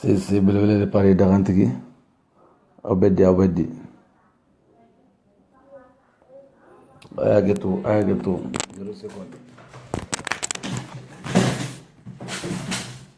sese belebele de paris dagantigi aw bɛ di aw bɛ di a ye hakɛto a ye hakɛto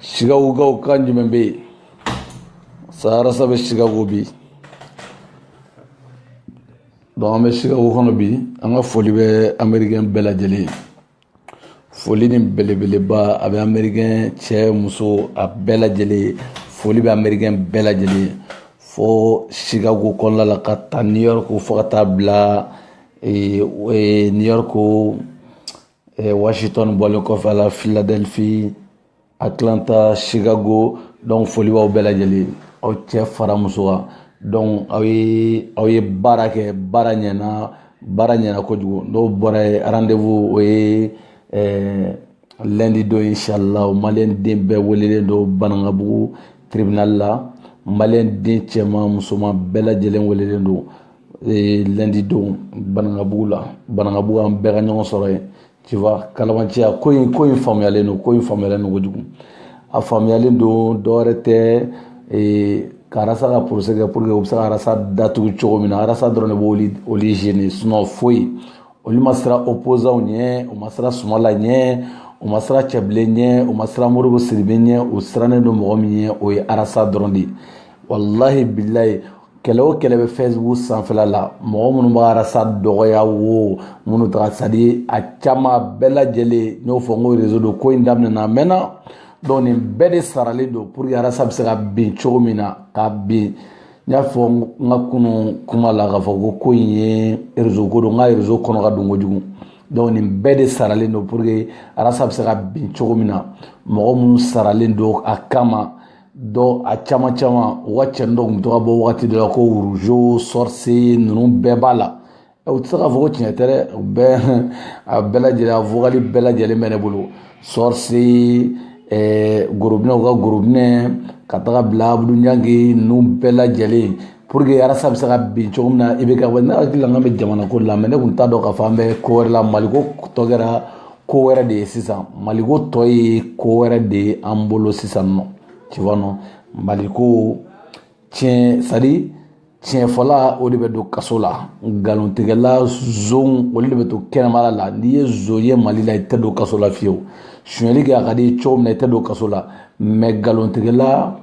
chicagokaw kan jumɛn bɛ yen sa arasa bɛ chicago bi donc an bɛ chicago kɔnɔ bi an ka foli bɛ amerikɛn bɛɛ lajɛlen foli ni belebeleba a bɛ amerikɛn cɛ muso a bɛɛ lajɛlen foli bɛ amerikɛn bɛɛ lajɛlen fo chicago kɔnɔna la ka taa new york fo ka taa bila new york eh, washington bɔlen kɔfɛ a la philadelphie atlanta chicago donc foli b'aw bɛɛ lajɛlen aw cɛ fara muso kan donc aw ye aw ye baara kɛ baara ɲɛna baara ɲɛna kojugu n'o bɔra yen rendez-vous o ye eh, lundi don inshallah maliyɛn den bɛɛ welelen don banankabugu tribunal la maliyɛn den cɛman musoman bɛɛ lajɛlen welelen don ee lundi don banankabugu la banankabugu an bɛɛ ka ɲɔgɔn sɔrɔ yen tu vois kalabanciya ko in ko in faamuyalen don ko in faamuyalen don kojugu a faamuyalen don dɔwɛrɛ tɛ ee ka arasa ka procès kɛ pour que u bɛ se ka arasa datugu cogo min na arasa dɔrɔn de b'olu olu gêner sinon foyi olu ma siran opposants ɲɛ u ma siran sumala ɲɛ u ma siran cɛbilen ɲɛ u ma siran modibo sidibe ɲɛ u sirannen don mɔgɔ min ɲɛ o ye arasa dɔrɔn de ye walahi bilayi kɛlɛ o kɛlɛ bɛ facebook sanfɛla la mɔgɔ minnu b'arasa dɔgɔya wo minnu taga c'est à dire a caman bɛɛ lajɛlen n y'o fɔ n ko réseau don ko in daminɛna a mɛnna donc nin bɛɛ de saralen don pour que arasa bɛ se ka bin cogo min na ka bin n y'a fɔ n ka kunun kuma la k'a fɔ ko ko in ye réseau ko don nka réseau kɔnɔ ka dun kojugu donc nin bɛɛ de saralen don pour que arasa bɛ se ka bin cogo min na mɔgɔ minnu saralen don a kama dɔ a caman caman u ka cɛnin dɔ tun bɛ to ka bɔ wagati dɔ la ko rougeot sorcier ninnu bɛɛ b'a la u tɛ se k'a fɔ ko tiɲɛ tɛ dɛ u bɛɛ a bɛɛ lajɛlen a vocal bɛɛ lajɛlen bɛ ne bolo sorcier gorobinɛ u ka gorobinɛ ka taga bila abudu ɲangi ninnu bɛɛ lajɛlen pour que arasa bɛ se ka bin cogo min na i bɛ ka ne hakili la n k'an bɛ jamana ko la mais ne tun t'a dɔn k'a fɔ an bɛ ko wɛrɛ la maliko tɔ kɛra ko wɛrɛ de ye sisan maliko tɔ ye ko wɛrɛ de ye an bolo sisan nɔ tu vois non maliko tiɲɛ c'est à dire tiɲɛfɔla o de bɛ don kaso la nkalontigɛla zonw olu de bɛ to kɛnɛmala la n'i ye zon ye mali la i tɛ don kaso la fiyewu sonyali kɛ a ka di cogo min na i tɛ don kaso la mais nkalontigɛla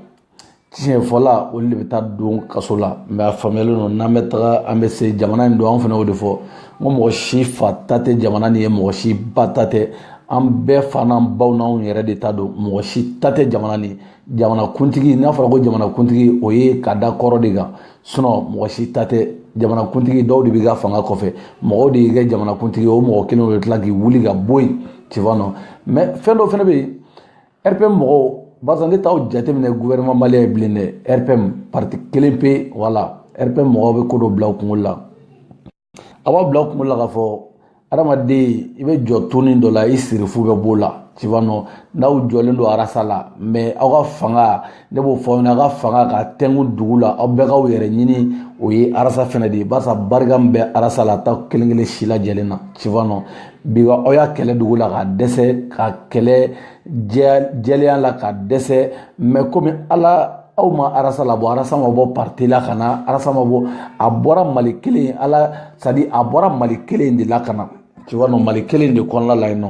tiɲɛ fɔla olu de bɛ taa don kaso la mais a faamuyalen don n'an bɛ taga an bɛ se jamana in don an fana o de fɔ n ko mɔgɔ si fa ta tɛ jamana nin ye mɔgɔ si ba ta tɛ an bɛɛ fa n'an baw n'anw yɛrɛ de ta don mɔgɔ si ta tɛ jamana nin jamana kuntigi n'a fɔra ko jamana kuntigi o ye ka da kɔrɔ de kan sinon mɔgɔ si ta tɛ jamana kuntigi dɔw de b'i ka fanga kɔfɛ mɔgɔw de y'i kɛ jamana kuntigi o mɔgɔ kelen o bɛ tila k'i wuli ka bɔ yen tu vois non mais fɛn dɔ fana bɛ yen rpm mɔgɔw barisa ne t'aw jateminɛ gouvernement malien ye bilen dɛ rpm parti kelen pe voilà rpm mɔgɔw bɛ ko dɔ bila u kunkolo la a b'a bila u kunkolo la k'a fɔ adamaden i bɛ jɔ toni dɔ la i sirifu bɛ b'o la tu vois non n'aw jɔlen don arasa la mais aw ka fanga ne b'o fɔ aw ɲɛna aw ka fanga ka tɛnku dugu la aw bɛɛ k'aw yɛrɛ ɲini o ye arasa fɛnɛ de ye barisa barika min bɛ arasa la t'aw kelen kelen si lajɛlen na tu vois non bi aw y'a kɛlɛ dogo la ka dɛsɛ k'a kɛlɛ jɛlenya la ka dɛsɛ mais komi ala aw ma arasa labɔ arasa ma bɔ parti la ka na arasa ma bɔ a bɔra mali kelen ala c'est à dire a bɔra mali kelen de la ka na tu vois non mali kelen de kɔnɔna la yen nɔ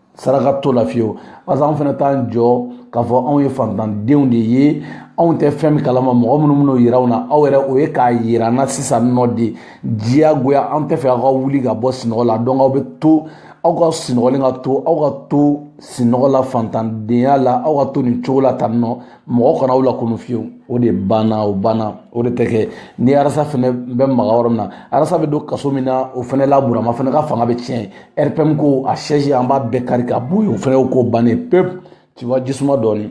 saraka t'o la fiyewu parce que anw fana t'an jɔ k'a fɔ anw ye fantandenw de ye anw tɛ fɛn min kalama mɔgɔ minnu min'o yira anw na aw yɛrɛ o ye k'a yira an na sisan nɔ de diyagoya an tɛ fɛ aw ka wuli ka bɔ sinɔgɔ la donc aw bɛ to aw ka sinɔgɔlen ka to aw ka to sinɔgɔ la fantandenya la aw ka to nin cogo la tan nɔ mɔgɔ kana aw lakunu fiyewu o de banna o banna o de tɛ kɛ ni arasa fana bɛ maga yɔrɔ min na arasa bɛ don kaso min na o fana la burama fana ka fanga bɛ tiɲɛ rpm ko a siège an b'a bɛɛ kari ka bɔ yen o fana ko bannen pewu tu vois jisuma dɔɔni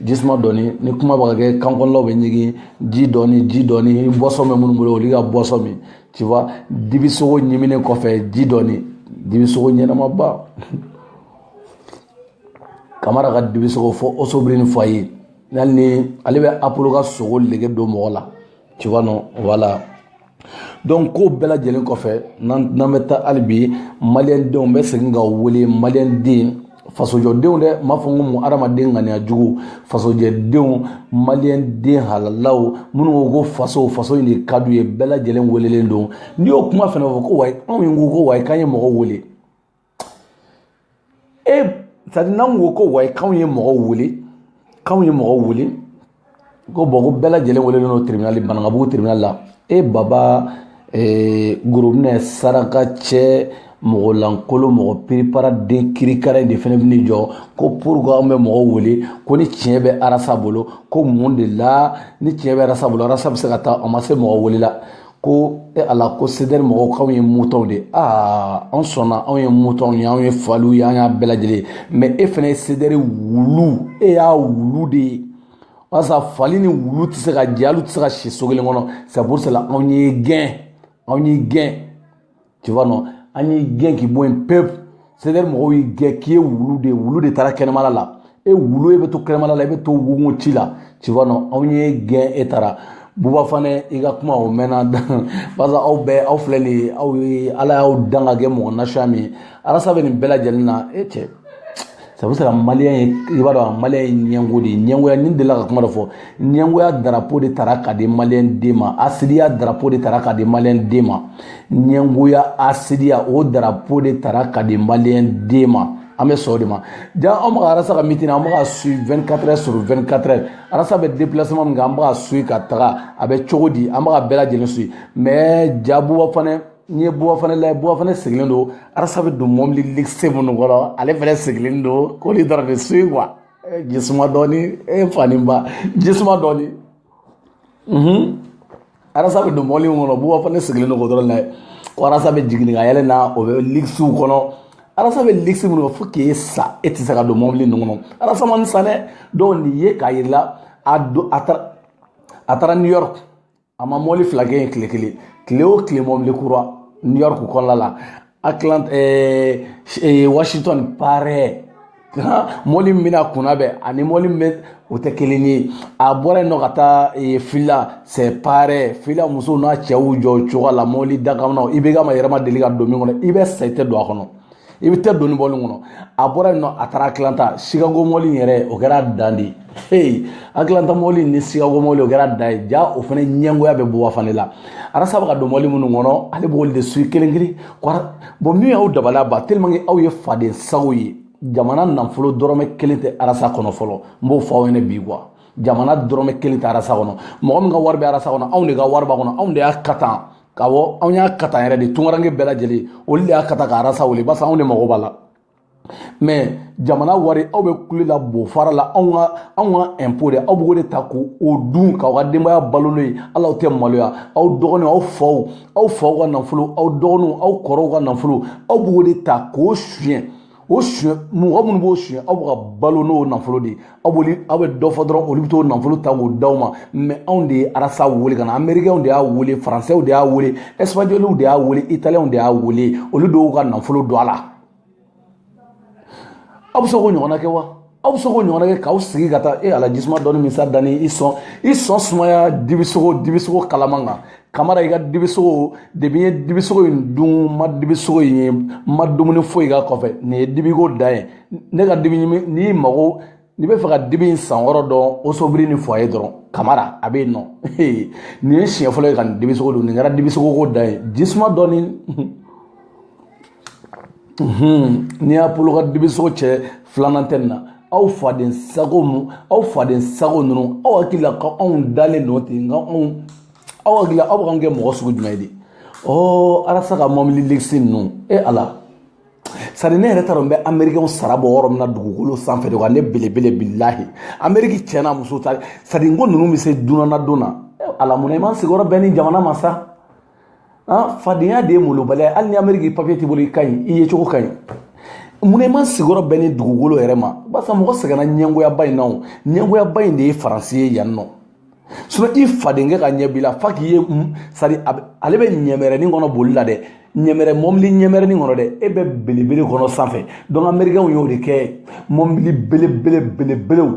jisuma dɔɔni ni kuma bɛ ka kɛ kan kɔnɔnaw bɛ ɲigin ji dɔɔni ji dɔɔni boisson bɛ minnu bolo olu ka boisson min tu vois dibisogo ɲiminen kɔfɛ ji dɔɔni dibisogo ɲɛnamaba kamara ka dibisogo fɔ osobrini fɔ a ye hali ni ale bɛ apolo ka sogo nege don mɔgɔ la tu vois non voilà donc ko bɛɛ lajɛlen kɔfɛ n'an bɛ taa hali bi maliyɛndenw bɛ segin ka wele maliyɛnden fasojɔdenw dɛ n b'a fɔ n ko mun adamaden ŋaniya jugu fasojɛdenw maliyɛnden halalaw minnu ko ko faso faso in de ka d'u ye bɛɛ lajɛlen welelen don n'i y'o kuma fana fɔ ko wayi anw ye ko ko wayi k'an ye mɔgɔ wele c'est à dire n'an ko ko wayi k'anw ye mɔgɔw wele k'anw ye mɔgɔw wele ko bon ko bɛɛ lajɛlen welelen don tribunali banankabugu tribunali la e baba gorobinɛ saraka cɛ mɔgɔ lankolon mɔgɔ piripara den kirikara de fana bɛ jɔ ko pourquoi an bɛ mɔgɔw wele ko ni tiɲɛ bɛ arasa bolo ko mun de la ni tiɲɛ bɛ arasa bolo arasa bɛ se ka taa a ma se mɔgɔ wele la ko e ala ko CDR mɔgɔw k'anw ye mutɔnw de aa anw sɔnna anw ye mutɔnw ye anw ye faliw ye an y'a bɛɛ lajɛlen ye mais e fana ye CDR wulu e y'a wulu de ye walasa fali ni wulu tɛ se ka jɛ hali u tɛ se ka si so kelen kɔnɔ c'est pour cela anw y'i gɛn anw y'i gɛn tu vois non an y'i gɛn k'i bɔ yen pewu CDR mɔgɔw y'i gɛn k'i ye wulu de ye wulu de taara kɛnɛmala la e wulu e bɛ to kɛnɛmala la e bɛ to wugun ci la tu vois non anw y'i gɛn e taara buba fana i ka kuma o mɛnna barisa aw bɛɛ aw filɛ nin ye aw ye ala y'aw dan ka kɛ mɔgɔ nasiya min ye arasa bɛ nin bɛɛ lajɛlen na e cɛ c'est pour cela maliyɛn i b'a dɔn maliyɛn ye ɲɛngo de ye ɲɛngoya ne delila ka kuma dɔ fɔ ɲɛngoya darapo de tara ka di maliyɛn den ma hasidiya darapo de tara ka di maliyɛn den ma ɲɛngoya hasidiya o darapo de tara ka di maliyɛn den ma an bɛ sɔn o de ma ja an bɛ ka arasa ka mitin an bɛ ka suivre 24 heures sur 24 heures arasa bɛ déplacement min kɛ an bɛ ka suivre ka taga a bɛ cogo di an bɛ ka bɛɛ lajɛlen suivre mais ja buba fana n'i ye buba fana lajɛ buba fana sigilen don arasa bɛ don mɔbili ligisi minnu kɔnɔ ale fana sigilen don k'olu dɔrɔn de suivre quoi jisuma dɔɔni e fa ni ba jisuma dɔɔni arasa bɛ don mɔbili min kɔnɔ buba fana sigilen don k'o dɔrɔn lajɛ ko arasa bɛ jigin ka yɛlɛn mɔbili ligisiw kɔnɔ arasa bɛ ligisi minnu kɔnɔ fo k'e sa e tɛ se ka don mɔbili ninnu kɔnɔ arasa man sa dɛ donc nin ye k'a yir'i la a don a taara a taara new york a ma mɔbili fila kɛ yen tile kelen tile o tile mɔbili kura new york kɔnɔna la atlant eh, eh, washington pareil mɔbili min bɛna kunnabɛn ani mɔbili min bɛ o tɛ kelen ye a bɔra yen nɔ ka taa eh, phila c'est pareil phila musow n'a cɛw jɔ cogoya la mɔbili dakamanaw IBK ma yɛrɛ ma deli ka don min kɔnɔ i bɛ sa i tɛ don a kɔnɔ i bɛ tɛ don nin mɔbili kɔnɔ a bɔra yen nɔ a taara atlanta chicago mɔbili yɛrɛ o kɛra dan de ye ee atlanta mɔbili ni chicago mɔbili o kɛra dan ye ja o fana ɲɛngoya bɛ buba fana la arasa bɛ ka don mɔbili minnu kɔnɔ ale b'olu de suivre kelen kelen voilà bon min y'aw dabaliya ban tellement que aw ye faden sago ye jamana nafolo dɔrɔmɛ kelen tɛ arasa kɔnɔ fɔlɔ n b'o fɔ aw ɲɛna bi quoi jamana dɔrɔmɛ kelen tɛ arasa kɔnɔ mɔgɔ min ka wari bɛ arasa kɔnɔ anw de ka wari b'a kɔnɔ anw de y'a katan ka bɔ anw y'a kata yɛrɛ de tunkaranke bɛɛ lajɛlen olu de y'a kata ka arasa wele basa anw de mago b'a la mais jamana wari aw bɛ kule la bo fara la anw ka anw ka impôt de aw b'o de ta k'o o dun k'aw ka denbaya balo n'o ye hali aw tɛ maloya aw dɔgɔninw aw faw aw faw ka nafolo aw dɔgɔninw aw kɔrɔw ka nafolo aw b'o de ta k'o suɲɛ o suɲɛ mɔgɔ minnu b'o suɲɛ aw bɛ ka balo n'o nafolo de ye aw b'olu aw bɛ dɔ fɔ dɔrɔn olu bɛ t'o nafolo ta k'o d'aw ma mais anw de ye arasa wele ka na amerikɛnw de y'a wele faransɛw de y'a wele ɛsipaɲɔliw de y'a wele italiyɛnw de y'a wele olu de y'u ka nafolo don a la aw bɛ se k'o ɲɔgɔnna kɛ wa aw bɛ se k'o ɲɔgɔnna kɛ k'aw sigi ka taa e ala jisuma dɔɔni min sa danni i sɔn i sɔn sumaya dibisogo dibisogo kalaman kan kamara i ka dibisogo depi n ye dibisogo in dun n ma dibisogo in ye n ma dumuni foyi k'a kɔfɛ nin ye dibiko dan ye ne ka dibi ɲimi n'i mago n'i b'a fɛ ka dibi in san wɔɔrɔ dɔn osobiri ni foyer dɔrɔn kamara a bɛ yen nɔ nin ye siɲɛ fɔlɔ ye ka nin dibisogo dun nin kɛra dibisogo ko dan ye jisuma dɔɔni n'i y'a bolo ka dibisogo cɛ filanan tɛ nin na aw faden sago mu aw faden sago ninnu aw hakili la ko anw dalen don ten nka anw aw hakili la aw bɛ k'an kɛ mɔgɔ sugu jumɛn ye de ɔ arasa ka mɔbili legisi ninnu e ala sari ne yɛrɛ t'a dɔn n bɛ amerikɛnw sara bɔ yɔrɔ min na dugukolo sanfɛ de wa ne belebele bilahi ameriki cɛ n'a muso ta sari ko ninnu bɛ se dunan ladon na ala mun na i ma sigiyɔrɔ bɛn ni jamana ma sa an fadenya de ye molobaliya ye hali ni ameriki papiye t'i bolo i ka ɲi i yecogo ka ɲi mun na i ma sigiyɔrɔ bɛn ni dugukolo yɛrɛ ma barisa mɔgɔ sɛgɛnna ɲɛngoyaba in na o ɲɛngoyaba in de ye faransi ye yan nɔ sinɔn i fadenkɛ ka ɲɛ b'i la fa k'i ye sari ale bɛ ɲɛmɛrɛnin kɔnɔ boli la dɛ ɲɛmɛrɛ mɔbili ɲɛmɛrɛnin kɔnɔ dɛ e bɛ belebele kɔnɔ sanfɛ dɔnku amerikɛnw y'o de kɛ mɔbili belebele belebelew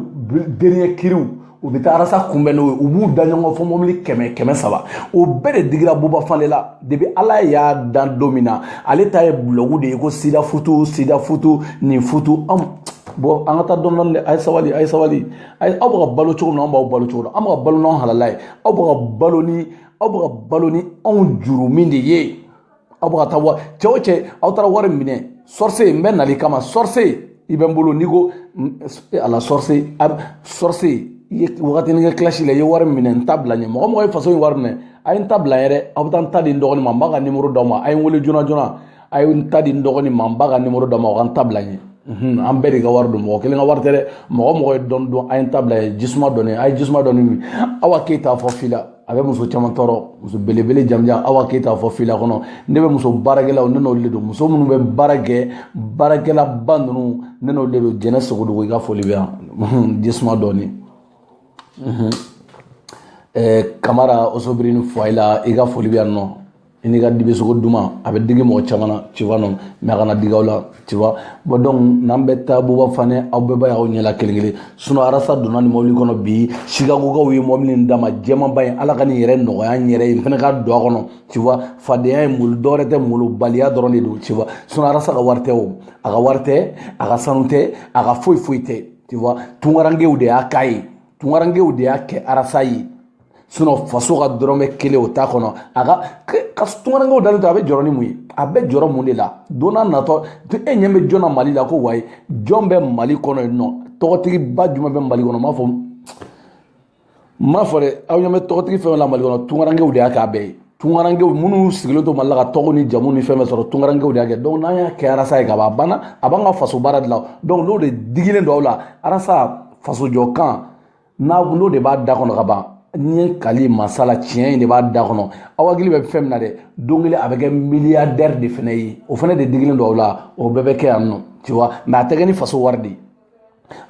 dernier kiriw u bɛ taa arasa kunbɛn n'o ye u b'u da ɲɔgɔn fɔ mɔbili kɛmɛ kɛmɛ saba o bɛɛ de digira buba fane la depi ala y'a dan don min na ale ta ye bulɔgu de ye ko sida futu sida futu nin futu an bɔn an ka taa dɔɔni dɔɔni dɛ a ye sabali a ye sabali a ye aw bɛ ka balo cogo min na an b'aw balo cogo la an bɛ ka balo n'anw halala ye aw bɛ ka balo ni aw bɛ ka balo ni anw jurumu de ye aw bɛ ka taa wa cɛ o cɛ aw taara wari minɛ sɔrɔse n bɛ nali kama sɔrɔse i bɛ n bolo n'i ko ala sɔrɔse sɔrɔse i ye wagatinin kɛ kilasi la i ye wari minɛ n ta bila n ye mɔgɔ o mɔgɔ ye faso in wari minɛ a ye n ta bila yɛrɛ aw bɛ taa n ta di n dɔgɔnin ma n b'a ka nimoro d'aw ma a ye n wele joona joona a ye n ta di n dɔgɔnin ma n b'a ka nimoro d'aw ma o ka n ta bila n ye an bɛɛ de ka wari don mɔgɔ kelen ka wari tɛ dɛ mɔgɔ o mɔgɔ ye dɔɔni don a ye n ta bila n ye jisuma dɔɔni a ye jisuma dɔɔni min awa keyita fɔ fila a bɛ muso caman tɔɔrɔ muso belebele jamujan awa keyita fɔ fila kɔnɔ ne bɛ muso baarakɛlaw ne n'olu de don muso minnu bɛ baara kɛ baarakɛlaba ninnu ne n'olu de don jɛnɛ sogodogo i ka foli bɛ yan jisuma dɔɔni kamara osobiri ni foyer la i ka foli bɛ yan nɔ i n'i ka dibisogo duman a bɛ digi mɔgɔ caman na tu vois non mais a kana digi aw la tu vois bon donc n'an bɛ taa buba fane aw bɛɛ b'a y'aw ɲɛ la kelen kelen sinon arasa donna nin mɔbili kɔnɔ bi sikagokaw ye mɔbili in d'a ma jɛmanba in ala ka nin yɛrɛ nɔgɔya n yɛrɛ ye n fana ka don a kɔnɔ tu vois fadenya ye molo dɔwɛrɛ tɛ molobaliya dɔrɔn de don tu vois sinon arasa ka wari tɛ o a ka wari tɛ a ka sanu tɛ a ka foyi foyi tɛ tu vois tungarankew de y'a k'a ye tungarankew de y'a kɛ arasa ye sinɔn faso ka dɔrɔmɛ kelen o t'a kɔnɔ a ka ka tungarankew dalen to a bɛ jɔrɔ ni mun ye a bɛ jɔrɔ mun de la don n'a natɔ e ɲɛ bɛ jɔn na mali la ko wayi jɔn bɛ mali kɔnɔ yen nɔ tɔgɔtigiba jumɛn bɛ mali kɔnɔ n b'a fɔ n b'a fɔ dɛ aw ɲɛ bɛ tɔgɔtigi fɛn fɛn la mali kɔnɔ tungarankew de y'a k'a bɛɛ ye tungarankew minnu sigilen to mali la ka tɔgɔ ni jamu ni fɛn bɛɛ sɔrɔ tungarankew de y'a kɛ donc n'an y'a kɛ arasa ye ka ban a banna a b'an ka faso baara de la donc n'o de digilen don aw la arasa faso jɔ kan n'o de b'a da kɔnɔ ka ban n ye kali masa la tiɲɛ in de b'a da kɔnɔ aw hakili bɛ fɛn min na dɛ don kelen a bɛ kɛ miliyardɛri de fana ye o fana de digilen don aw la o bɛɛ bɛ kɛ yan nɔ tu vois mɛ a tɛ kɛ ni faso wari de ye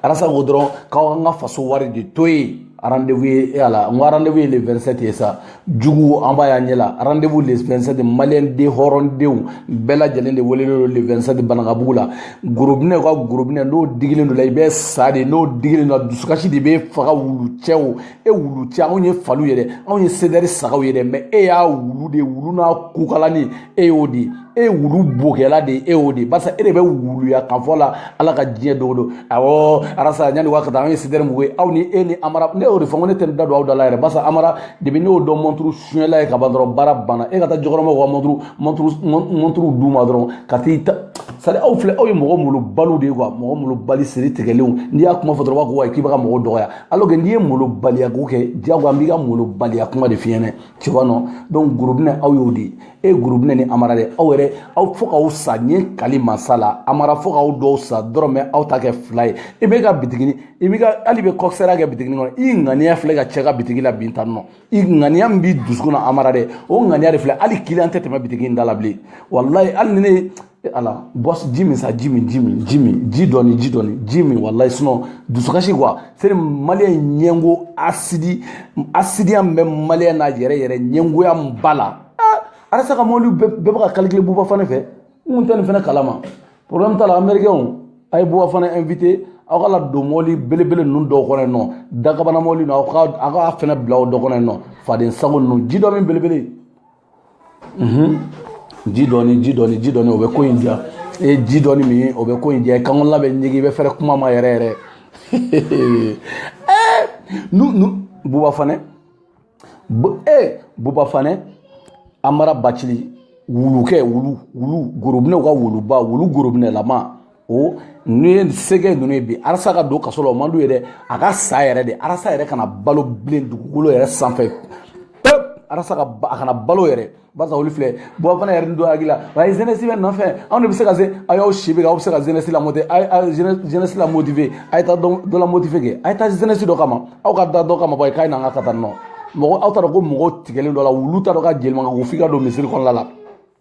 arasa ko dɔrɔn k'aw k'an ka faso wari de to yen rendez-vous ye e y'a la n ko rendez-vous ye le 27 ye sa jugu an b'a y'an ɲɛ la rendez-vous le 27 maliyɛn den hɔrɔndenw bɛɛ lajɛlen de welelen don le 27 banankabugu la gorobinɛ ka gorobinɛ n'o digilen don la i bɛ sa de n'o digilen don dusukasi de b'i faga wulu cɛ o e wulu cɛ anw ye faliw ye dɛ anw ye sedɛri sagaw ye dɛ mɛ e y'a wulu de wulu n'a kukalani e y'o de e ye wulu bokɛla de ye e y'o de barisa e de bɛ wuluya kan fɔ la ala ka diɲɛ dogo don awɔ arasa yanni waa ka taa an ye sedɛri mugu ye aw ni e ni amara ne y'o de fɔ ko ne tɛ da don aw da la yɛrɛ barisa amara depi ne y'o dɔn mɔnturu sonyɛla ye ka ban dɔrɔn baara banna e ka taa jɔkɔrɔmaw ka mɔnturu mɔnturu mɔnturuw d'u ma dɔrɔn ka t'i ta c'est-à-dire aw filɛ aw ye mɔgɔ malobali de ye kuwa mɔgɔ malobali siri tigɛlenw n'i y'a kuma fɔ dɔrɔn b'a ko wa k'i bɛ ka mɔgɔw dɔgɔya alors que n'i ye malobaliya ko kɛ diyagoya n b'i ka malobaliya kuma de f'i ɲɛna tu vois non donc gorobinɛ aw y'o de ye e gorobinɛ ni amara dɛ aw yɛrɛ aw fo k'aw sa n ye kali masa la amara fo k'aw dɔw sa dɔrɔn mɛ aw ta kɛ fila ye i bɛ ka bitigini i bɛ ka hali bɛ kɔkisɛriya kɛ bitigini kɔnɔ i ŋaniya filɛ ka cɛ ka bitigi labin tan nɔ i ŋaniya min b'i dusukun na amara dɛ o ŋaniya de filɛ hali kiliyan tɛ tɛmɛ bitigi in da la bilen walayi hali ni ne ala bɔs ji min sa ji min ji min ji min ji dɔɔni ji dɔɔni ji min walayi sinɔn dusukasi kuwa c'est-à-dire maliyɛn ɲɛngo asidi asidiya min bɛ maliyɛn na yɛrɛ yɛrɛ ɲɛngoya min b'a la arasa ka mɔbili bɛɛ bɛ ka kalikile buba fanɛ fɛ n kun tɛ nin fana kalama problème t'a la américain a ye buba fanɛ invité aw k'a ladon mɔbili belebele ninnu dɔw kɔnɔ yen nɔ dakabana mɔbili ninnu aw ka aw ka fanɛ bila o dɔ kɔnɔ yen nɔ faden sago ninnu ji dɔ min belebele mhm. ji dɔɔni ji dɔɔni ji dɔɔni o bɛ ko in diya i ye ji dɔɔni min o bɛ ko in diya kankɔnɔla bɛ ɲigin i bɛ fɛrɛ kuma ma yɛrɛ yɛrɛ ɛɛ eh, nu nu buba fanɛ bu ee eh, buba fanɛ amara bacili wulukɛ wulu wulu gorobinɛw ka wuluba wulu gorobinɛlama o ni ye sɛgɛ ninnu ye bi arasa ka don kaso la o man d'u ye dɛ a ka sa yɛrɛ de arasa yɛrɛ kana balo bilen dugukolo yɛrɛ sanfɛ pep arasa ka a kana balo yɛrɛ barisa olu filɛ buba fane yɛrɛ ni dɔ hakili la wa ye zenɛsi bɛ nɔfɛ anw de bɛ se ka se a y'aw si bɛ kɛ aw bɛ se ka zenɛsi la motive zenɛsi la motive a ye taa dɔ la motive kɛ a ye taa zenɛsi dɔ kama aw ka da dɔ kama bɔ ye k'a ye n'an ka ka taa nɔ mɔgɔ aw t'a dɔn ko mɔgɔw tigɛlen dɔ la wulu t'a dɔn ka jelimankan ko f'i ka don misiri kɔnɔna la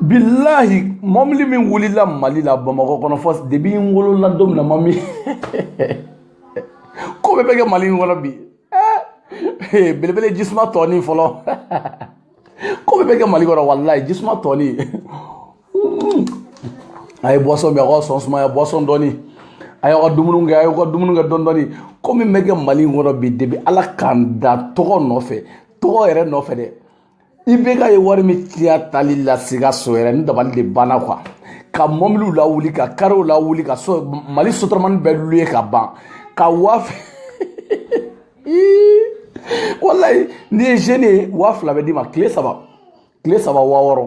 bilahi mɔbili min wulila mali la bamakɔ kɔnɔ fɔ debi n wolola don min na n m'o mɛn ko bɛɛ bɛ kɛ mali in kɔnɔ bi eh, belebele jisuma tɔɔni fɔlɔ ko bɛɛ bɛ kɛ mali kɔnɔ walayi jisuma tɔɔni hmm. a ye boisson min a ka sɔn sumaya boisson dɔɔni a y'aw ka dumuni kɛ a y'aw ka dumuni kɛ dɔɔni dɔɔni ko min bɛ kɛ mali in kɔnɔ bi debi ala ka n da tɔgɔ nɔfɛ tɔgɔ yɛrɛ nɔfɛ dɛ ibeka ye wari min tiya taali la sikaso yɛrɛ ni dabali de banna kuwa ka mɔbiliw lawuli ka karew lawuli ka so mali sotaramani bɛɛ luye k'a ban ka waa walayi n'i ye zeni ye waa fila bɛ d'i ma tile saba tile saba waa wɔɔrɔ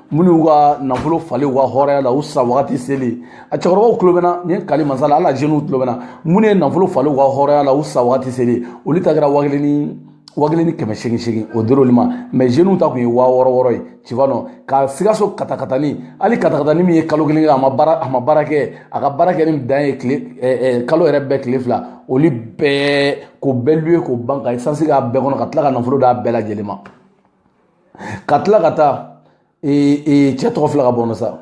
minnu ka nafolo falen u ka hɔrɔnya la u sa wagati selen a cɛkɔrɔbaw tulo bɛ n na ni kali masa ala la jeniw tulo bɛ n na minnu ye nafolo falen u ka hɔrɔnya la u sa wagati selen olu ta kɛra wa kelen ni wa kelen ni kɛmɛ seegin seegin o dir'olu ma mɛ jeniw ta tun ye wa wɔɔrɔ wɔɔrɔ ye tu vois non ka sikaso katakatani hali katakatani min ye kalo kelen kɛ a ma baara a ma baara kɛ a ka baara kɛ ni dan ye tile ɛɛ kalo yɛrɛ bɛɛ tile fila olu bɛɛ k'o bɛɛ luwe k'o ban ka esansi k'a bɛɛ kɔnɔ ka tila ka nafolo d'a bɛɛ lajɛlen ma ka tila ka taa cɛ tɔgɔ fila ka bɔ sa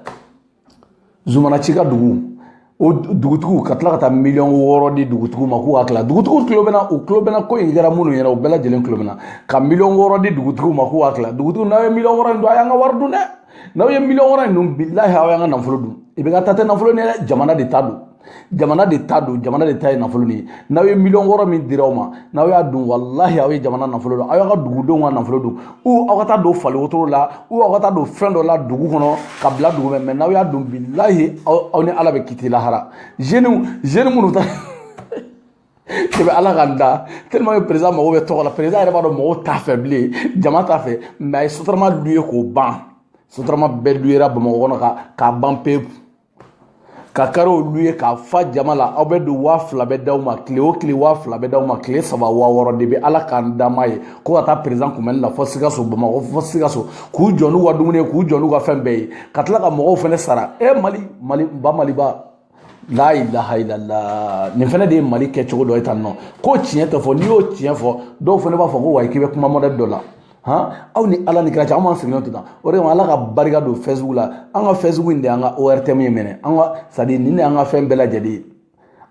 zumana ci ka dugu o dugutigiw ka tila ka taa miliyɔn wɔɔrɔ di dugutigiw ma k'u k'a tila dugutigiw tulo bɛ n na u tulo bɛ n na ko in kɛra minnu ɲɛ na u bɛɛ lajɛlen tulo bɛ n na ka miliyɔn wɔɔrɔ di dugutigiw ma k'u k'a tila dugutigiw n'aw ye miliyɔn wɔɔrɔ in dun a y'an ka wari dun dɛ n'aw ye miliyɔn wɔɔrɔ in dun bilahi aw y'an ka nafolo dun ibeka ta tɛ nafolo ni dɛ jamana de ta don jamana de ta don jamana de ta ye nafolo nin ye n'aw ye miliyɔn wɔɔrɔ min dira aw ma n'aw y'a dun walahi aw ye jamana nafolo dun aw y'aw ka dugudenw ka nafolo dun ou aw ka taa don fali wotoro la ou aw ka taa don fɛn dɔ la dugu kɔnɔ ka bila dugu mɛ mɛ n'aw y'a dun bilahi aw ni ala bɛ kiti lahara zeniw zeni minnu ta debi ala ka n da tellement que président mago bɛ tɔgɔ la président yɛrɛ b'a dɔn mɔgɔw t'a fɛ bilen jama t'a fɛ mɛ a ye sotarama luye k'o ban sotarama bɛɛ luyera bamakɔ kɔnɔ ka k'a ban pewu ka kariw luye k'a fa jama la aw bɛ don waa fila bɛ d'aw ma tile o tile waa fila bɛ d'aw ma tile saba waa wɔɔrɔ debi ala ka n da n m'a ye ko ka taa perezidan kunbɛnni la fɔ sikaso bamakɔ fɔ sikaso k'u jɔ n'u ka dumuni ye k'u jɔ n'u ka fɛn bɛɛ ye ka tila ka mɔgɔw fana sara e mali mali ba maliba la ilaha illallah nin fana de ye mali kɛcogo dɔ ye tan nɔ ko tiɲɛ tɛ fɔ n'i y'o tiɲɛ fɔ dɔw fana b'a fɔ ko wayi k'i bɛ kuma mɔdɛli dɔ la han aw ni ala ni kira cɛ an b'an sigilen to tan o de kama ala ka barika don fɛsibugu la an ka fɛsibugu in de y'an ka ortm ye même an ka sadi nin de y'an ka fɛn bɛɛ lajɛlen ye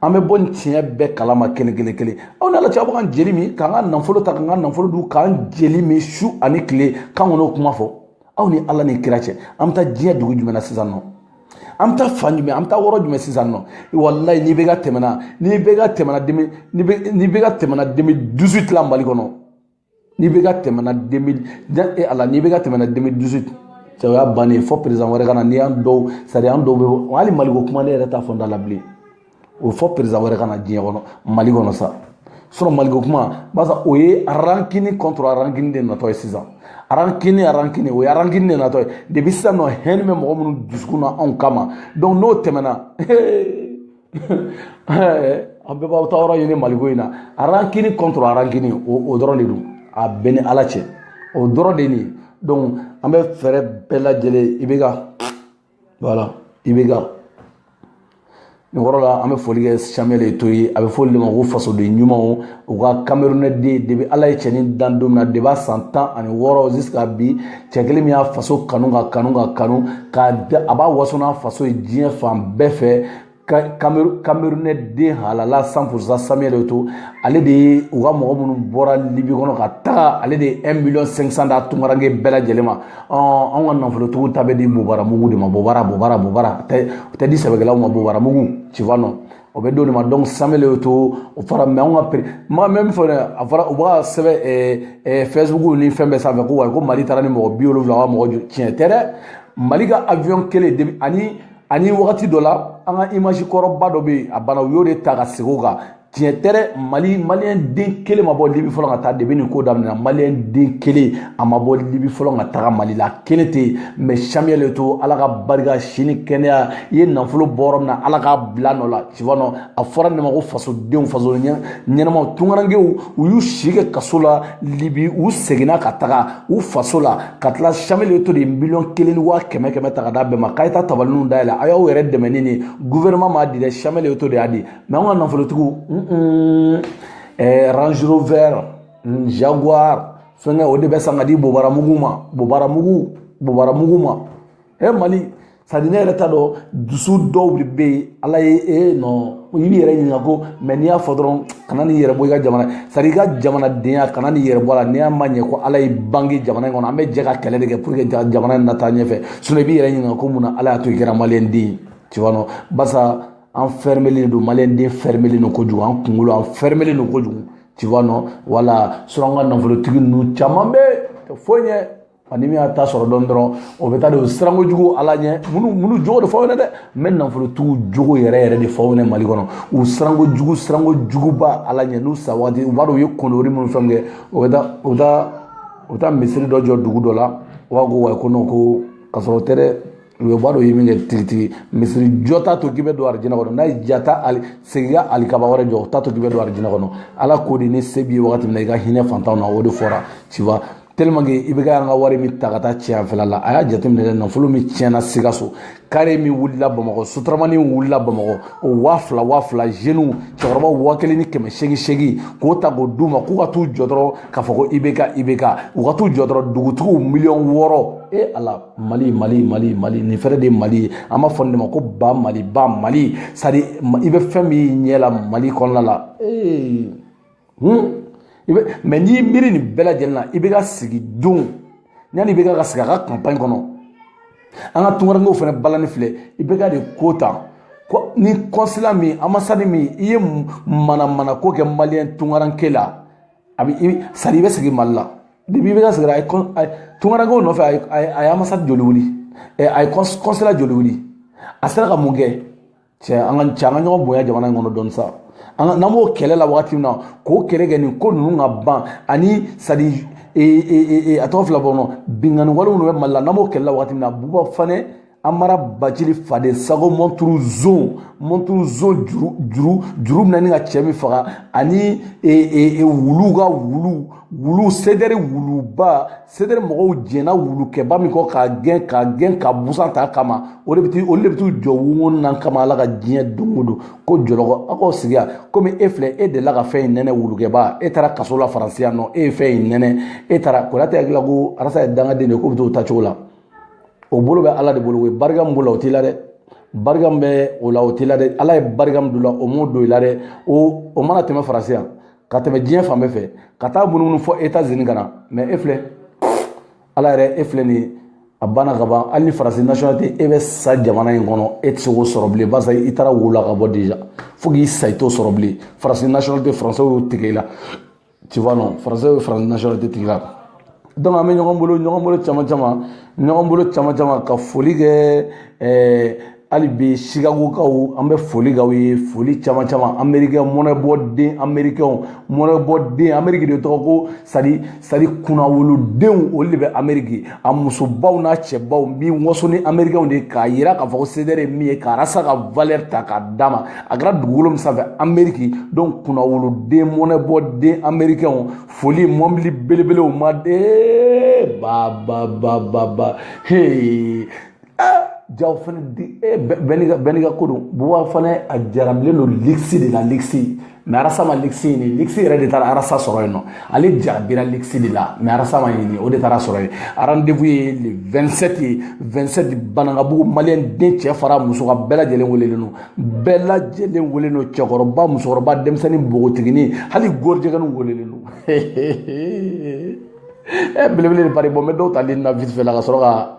an bɛ bɔ nin tiɲɛ bɛɛ kalama kelen kelen kelen aw ni ala cɛ aw bɛ ka jeli min k'an ka nafolo ta k'an ka nafolo dun k'an jeli min su ani tile k'an kɔnɔ kuma fɔ aw ni ala ni kira cɛ an bɛ taa diɲɛ dugu jumɛn na sisan nɔ an bɛ taa fan jumɛn an bɛ taa yɔrɔ jumɛn sisan nɔ walayi n'ibk tɛmɛna n'ibk tɛmɛna deux mille n'ibk tɛmɛna deux mille dix-huit la mali kɔnɔ n'ibk tɛmɛna deux mille e ala n'ibk tɛmɛna deux mille dix-huit cɛ o y'a bannen fɔ perezan wɛrɛ ka na ni an dɔw sadi an dɔw bɛ hali maliko kuma ne yɛrɛ t'a fɔ n da la bilen o fɔ perezan wɛrɛ ka na diɲɛ kɔnɔ mali kɔnɔ sa sinɔn maliko kuma barisa o ye rancune contre rancune de natɔ ye sisan rancune rancune o ye rancune de natɔ ye depi sisan nɔ haine bɛ mɔgɔ minnu dusukun na anw kama donc n'o tɛmɛna an bɛɛ b'aw ta yɔrɔ ɲini maliko in na rancune contre rancune o dɔrɔn de don a bɛɛ ni ala cɛ o dɔrɔn de nin donc an bɛ fɛɛrɛ bɛɛ lajɛlen ibk voilà ibk nin yɔrɔ la an bɛ foli kɛ samuel eto'o ye a bɛ fɔ olu de ma ko fasoden ɲumanw u ka kamerunɛden depi ala ye cɛnin dan don min na depi a san tan ani wɔɔrɔ jusqu'à bi cɛ kelen min y'a faso kanu ka kanu ka kanu k'a a b'a waso n'a faso ye diɲɛ fan bɛɛ fɛ kamerunɛ den halala cent pour cent samuel eto'o ale de ye u ka mɔgɔ minnu bɔra libi kɔnɔ ka taga ale de ye 1 miliyɔn 500 d'a tunkaranke bɛɛ lajɛlen ma anw ka nafolotigiw ta bɛ di bobaramugu de ma bobara bobara bobara o tɛ di sɛbɛkɛlaw ma bobaramugu tu vois non o bɛ d'olu ma donc samuel eto'o o fara mɛ anw ka pere ma même fɔ dɛ a fɔra u b'a sɛbɛn ɛɛ ɛɛ fɛsibuku ni fɛn bɛɛ sanfɛ ko wa ko mali taara ni mɔgɔ bi wolonwula ka mɔgɔ joli tiɲɛ tɛ dɛ mali ka avion kelen de ani ani wagati dɔ la an ka image kɔrɔba dɔ bɛ yen a banna u y'o de ta ka segin o kan tiɲɛ tɛ dɛ mali maliyɛn den kelen ma bɔ libi fɔlɔ ka taa depi nin ko daminɛna maliyɛn den kelen a ma bɔ libi fɔlɔ ka taga mali la kelen tɛ yen mɛ samuel eto'o ala ka barika si ni kɛnɛya i ye nafolo bɔ yɔrɔ min na ala k'a bila nɔ la tu vois non a fɔra ne ma ko fasodenw faso ɲɛnamaw tunkarankew u y'u si kɛ kaso la libi u seginna ka taga u faso la ka tila samuel eto'o de ye miliyɔn kelen ni waa kɛmɛ kɛmɛ ta ka d'a bɛɛ ma k'a ye taa tabalininw dayɛlɛ a y'aw yɛrɛ dɛmɛ ni nin guvɛrɛnman m'a di dɛ samuel eto'o de y'a di mɛ an ka nafolotigiw ɛɛ range rover jaguar fɛnkɛ o de bɛ san ka di bobaramugu ma bobaramugu bobaramugu ma e mali sadi ne yɛrɛ t'a dɔn dusu dɔw de bɛ yen ala ye e nɔ i b'i yɛrɛ ɲininka ko mɛ n'i y'a fɔ dɔrɔn kana n'i yɛrɛ bɔ i ka jamana sadi i ka jamanadenya kana n'i yɛrɛ bɔ a la n'i y'a ma ɲɛ ko ala y'i bange jamana in kɔnɔ an bɛ jɛ ka kɛlɛ de kɛ pour que jamana in na taa ɲɛfɛ sinɔn i b'i yɛrɛ ɲininka ko mun na ala y'a to i kɛra maliyɛnden ye tu vois non barisa an fɛrɛmɛlen don maliyɛnden fɛrɛmɛlen don kojugu an kunkolo an fɛrɛmɛlen don kojugu tu vois non wala sinon an ka nafolotigi ninnu caman bɛ tɛ foyi ɲɛ ani min y'a ta sɔrɔ dɔn dɔrɔn o bɛ taa don siranko jugu ala ɲɛ minnu minnu jogo de fɔ aw ɲɛna dɛ n bɛ nafolotigiw jogo yɛrɛ yɛrɛ de fɔ aw ɲɛna mali kɔnɔ u siranko jugu siranko juguba ala ɲɛ n'u sa waati u b'a dɔn u ye connerie minnu fɛn kɛ o bɛ taa u bɛ taa u bɛ taa misiri dɔ jɔ dugu dɔ la u b'a ko wa ko non ko ka sɔrɔ o tɛ dɛ u yɛrɛ b'a dɔn u ye min kɛ tigitigi misiri jɔ t'a to k'i bɛ don arijinɛ kɔnɔ n'a y'i diya taa ali segin ka alikaba wɛrɛ jɔ o t'a to k'i bɛ don arijinɛ kɔnɔ ala ko de ni se b'i ye wagati min na i ka hinɛ fantanw na o de fɔra tu vois tellement que ibk an ka wari min ta ka taa tiɲɛ fɛla la a y'a jateminɛ dɛ nafolo min tiɲɛna sikaso kare min wulila bamakɔ sotaramani wulila bamakɔ o waa fila waa fila zeniw cɛkɔrɔbaw waa kelen ni kɛmɛ seegin seegin k'o ta k'o d'u ma k'u ka t'u jɔ dɔrɔn k'a fɔ ko ibk ibk u ka t'u jɔ dɔrɔn dugutigiw miliyɔn wɔɔrɔ e ala mali mali mali mali nin fɛnɛ de ye mali ye an b'a fɔ nin de ma ko ba mali ba mali sadi i bɛ fɛn min ɲɛ la mali kɔnɔna la ee hun i bɛ mais n'i miiri nin bɛɛ lajɛlen na ibk sigi don yanni ibk ka sigi a ka kanpaɲi kɔnɔ an ka tungarankew fɛnɛ balani filɛ ibk de ko tan ni consulat min ambassade min i ye manamana ko kɛ maliyɛn tungaranke la a bɛ sadi i bɛ sigi mali la depuis ibk sigira a ye kɔn a ye tungarankew nɔfɛ a ye a ye a ye ambassade joli wuli ɛ a ye kɔns consulat joli wuli a sera ka mun kɛ cɛ an ka cɛ an ka ɲɔgɔn bonya jamana in kɔnɔ dɔɔni sa an ka n'an b'o kɛlɛ la wagati min na k'o kɛlɛ kɛ nin ko ninnu ka ban ani sadi ee ee ee a tɔgɔ filɛ bɔ n kɔnɔ binkanni wale minnu bɛ mali la n'an b'o kɛlɛ la wagati min na buba fane amara bacili faden sago mɔnturu zon mɔnturu zon juru juru juru bɛna ni ka cɛ min faga ani e, e, e, wulu ka wulu wulu sedɛri wuluba sedɛri mɔgɔw jɛnna wulukɛba min kɔ k'a gɛn k'a gɛn ka busan t'a kama o de bɛ olu de bɛ t'u jɔ wungon na kama ala ka diɲɛ don o don ko jɔlɔkɔ aw k'aw sigi yan komi e filɛ e delila ka fɛn in nɛnɛ wulukɛba e taara kaso la faransi yan non e ye fɛn in nɛnɛ e taara konate hakili la ko arasa ye dangaden de ye k'o bɛ t'o ta cogo la o bolo bɛ ala de bolo o ye barika min b'o la o t'i la dɛ barika min bɛ o la o t'i la dɛ ala ye barika min don o la o m'o don i la dɛ o o mana tɛmɛ faransi yan ka tɛmɛ diɲɛ fan bɛɛ fɛ ka taa munumunu fɔ etazini ka na mais e filɛ ala yɛrɛ e filɛ nin ye a banna ka ban hali ni faransi nationalité e bɛ sa jamana in kɔnɔ e tɛ se k'o sɔrɔ bilen barisa i taara wo la ka bɔ déjà fo k'i sa i t'o sɔrɔ bilen faransi nationalité français y'o tigɛ i la tu vois non français bɛ faransi nationalité tigɛ i la donc an bɛ ɲɔgɔn bolo ɲɔgɔn bolo caman caman ɲɔgɔn bolo caman caman ka foli kɛ ɛɛ eh, hali bi chicagokaw an bɛ foli k'aw ye foli caman caman amerikɛn mɔnɛbɔden amerikɛnw mɔnɛbɔden ameriki de tɔgɔ ko sadi sadi kunnawolodenw olu de bɛ ameriki a musobaw n'a cɛbaw bi waso ni amerikɛnw de k'a yira k'a fɔ ko sedɛrɛ ye min ye k'arasa ka valɛri ta k'a d'a ma a kɛra dugukolo min sanfɛ ameriki donc kunnawoloden mɔnɛbɔden amerikɛnw foli mɔbili belebelew ma de ba ba ba ba ba hee jaw fana di eh, bɛɛ n'i ka ko don buwa fana a jarabilen don ligisi de la ligisi mɛ arasa ma ligisi ɲini ligisi yɛrɛ de taara arasa sɔrɔ yen nɔ ale jarabira ligisi de la mɛ arasa ma ɲini o de taara sɔrɔ yen arandevu ye le 27 ye 27 banankabugu maliyɛn den cɛ fara muso kan bɛɛ lajɛlen welelen don bɛɛ lajɛlen welelen don cɛkɔrɔba musokɔrɔba denmisɛnnin npogotigini hali gorijɛgɛninw welelen don ɛ belebele de pari bon n bɛ dɔw tali na vite fait la ka sɔrɔ ka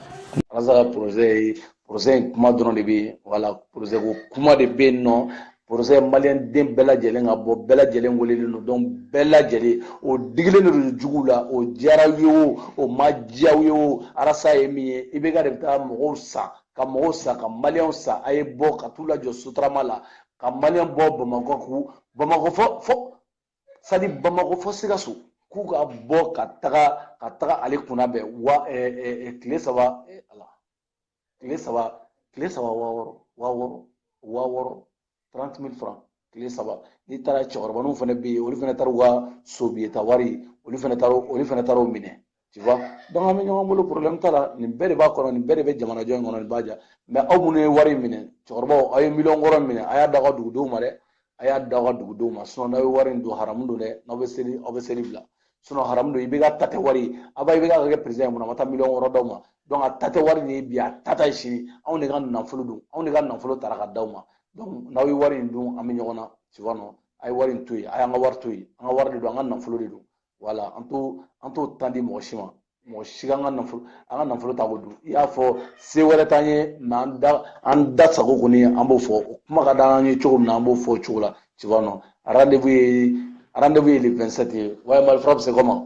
arasa ka porosɛ porosɛ in kuma dɔrɔn de bɛ yen wala porosɛ ko kuma de bɛ yen nɔ porosɛ maliyɛnden bɛɛ lajɛlen ka bɔ bɛɛ lajɛlen welelen don donc bɛɛ lajɛlen o digilen de don juguw la o diyara aw ye o o ma diya aw ye o arasa ye min ye IBK de bɛ taa mɔgɔw san ka mɔgɔw san ka maliyɛnw san a ye bɔ ka t'u lajɔ sotarama la ka maliyɛn bɔ bamakɔ k'u bamakɔ fɔ fɔ sadi bamakɔ fɔ sikaso k'u ka bɔ ka taga ka taga ale kunna bɛn wa tile saba ala tile saba tile saba waa wɔɔrɔ waa wɔɔrɔ waa wɔɔrɔ trente mille franc tile saba n'i taara cɛkɔrɔbaninw fana bɛ yen olu fana taara u ka sobiyeta wari olu fana taara olu fana taara o minɛ tu vois donc an bɛ ɲɔgɔn bolo problème t'a la nin bɛɛ de b'a kɔnɔ nin bɛɛ de bɛ jamanajɔ in kɔnɔ nin b'a diya mɛ aw minnu ye wari minɛ cɛkɔrɔbaw aw ye miliyɔn wɔɔrɔ minɛ a y'a da aw ka dugudenw ma dɛ a y'a da aw ka dugudenw ma sinɔn n'aw ye wari in dun haramu don dɛ n'aw bɛ seli aw bɛ seli bila sinɔn haramu don IBK ta tɛ wari ye avant IBK ka kɛ peresidan ye mun na a ma taa miliyɔn wɔɔrɔ d'aw ma donc a ta tɛ wari nin ye bi a ta t'a ye sini anw de ka nafolo don anw de ka nafolo tara ka d'aw ma donc n'aw ye wari in dun an bɛ ɲɔgɔn na tu vois non a ye wari in to yen a y'an ka wari to yen an ka wari de don an ka nafolo de don wala an t'o an t'o tan di mɔgɔ si ma mɔgɔ si ka an ka nafolo an ka nafolo ta k'o dun i y'a fɔ se wɛrɛ t'an ye mɛ an da an da sago kɔni an b'o fɔ o kuma ka d'an ye cogo min na an b'o fɔ o cogo la tu vois non rendez-vous ye rendez-vous ye le 27 ye ouais malfra bi c'est comment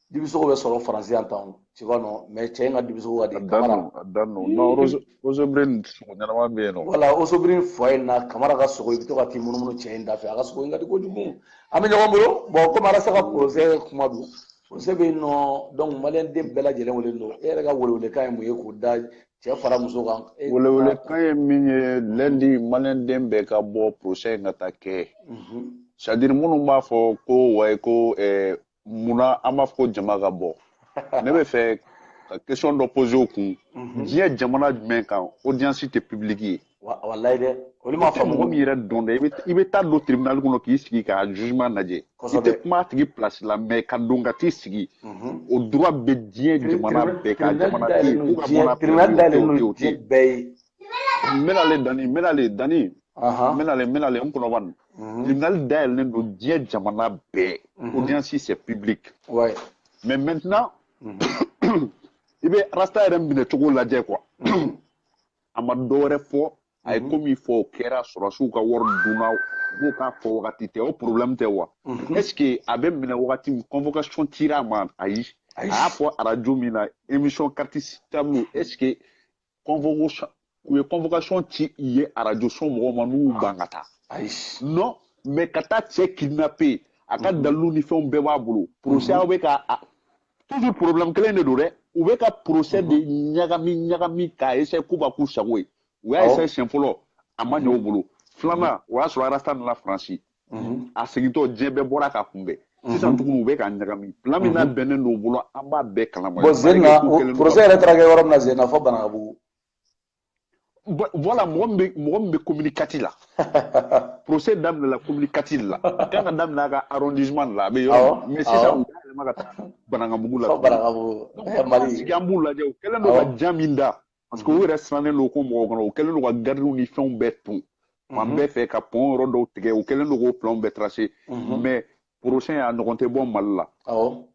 dibisogo bɛ sɔrɔ faransi yan tan tu vois non mais cɛ in ka dibisogo ka di kamara a dan no non osobrin sogo ɲɛnama bɛ yen nɔ wala osobrin fɔ in na kamara ka sogo i bɛ to ka t'i munumunu cɛ in da fɛ a ka sogo in ka di kojugu an bɛ ɲɔgɔn bolo bon komi arasa ka porosɛ kuma don porosɛ bɛ yen nɔ donc maliyɛn den bɛɛ lajɛlen wele don e yɛrɛ ka welewelekan ye mun ye k'o da cɛ fara muso kan welewelekan ye min ye lɛndi maliyɛn den bɛɛ ka bɔ porosɛ in ka taa kɛ sadiri minnu b'a fɔ ko wayi ko munna an b'a fɔ ko jama ka bɔ ne b'a fɛ ka question dɔ poser o kun mhm. diɲɛ jamana jumɛn kan audience tɛ publique ye walayi dɛ olu m'a faamu mɔgɔ min yɛrɛ dɔn dɛ i bɛ taa don tribunal kɔnɔ k'i sigi ka jugement lajɛ i tɛ kuma a tigi place la mais ka don ka t'i sigi mhm. o droit bɛ diɲɛ jamana bɛɛ kan jamana tɛ yen k'u ka bɔ a tribunal dayɛlɛlen don diɲɛ bɛɛ ye n bɛna le dani n bɛna le dani n bɛna le n bɛna le n kɔnɔ bani tribunal dayɛlɛlen don diɲɛ jamana bɛɛ audience c'est public mais maintenant i bɛ arasta yɛrɛ minɛcogo lajɛ quoi a ma dɔ wɛrɛ fɔ a ye ko min fɔ o kɛra sɔrɔsiw ka wari dunna b'o k'a fɔ wagati tɛ o problème tɛ wa est ce que a bɛ minɛ wagati min convocation cira a ma ayi a y'a fɔ arajo min na émission carte sur table est ce que convocation u ye convocation ci i ye arajoso mɔgɔw ma n'u y'u ban ka taa non mais ka taa cɛ kidnapper a ka mhm. dalilu ni fɛnw bɛɛ b'a bolo procès mhm. aw bɛ ka toujours problème kelen de don dɛ u bɛ ka procès de mhm. ɲagami ɲagami k'a essayer k'u b'a k'u sago ye u y'a essayer siɲɛ fɔlɔ a ma ɲɛ u bolo filanan o y'a sɔrɔ arasta nana faransi mhm. a segintɔ diɲɛ bɛɛ bɔra k'a kunbɛn mhm. sisan tuguni u bɛ k'a ɲagami plan min mhm. bɛnnen don u bolo an b'a bɛɛ kalama bon zenna procès yɛrɛ taara kɛ yɔrɔ min na zenna fo banakabugu voilà mɔgɔ min bɛ mɔgɔ min bɛ commune quatre la procès daminɛla commune quatre la a kan ka daminɛ a ka arrondissement la a bɛ yɔrɔ min mais sisan u y'a yɛlɛma ka taa banakabugu la banakabugu mali an b'u lajɛ u kɛlen don ka jan min da parce que u yɛrɛ sirannen don bamakɔ kɔnɔ u kɛlen don ka garidiw ni fɛnw bɛɛ ton fan mhm. bɛɛ fɛ ka pɔn yɔrɔ dɔw tigɛ u kɛlen don k'o planw bɛɛ trase mhm. mais procès in a ɲɔgɔn tɛ bɔ mali la o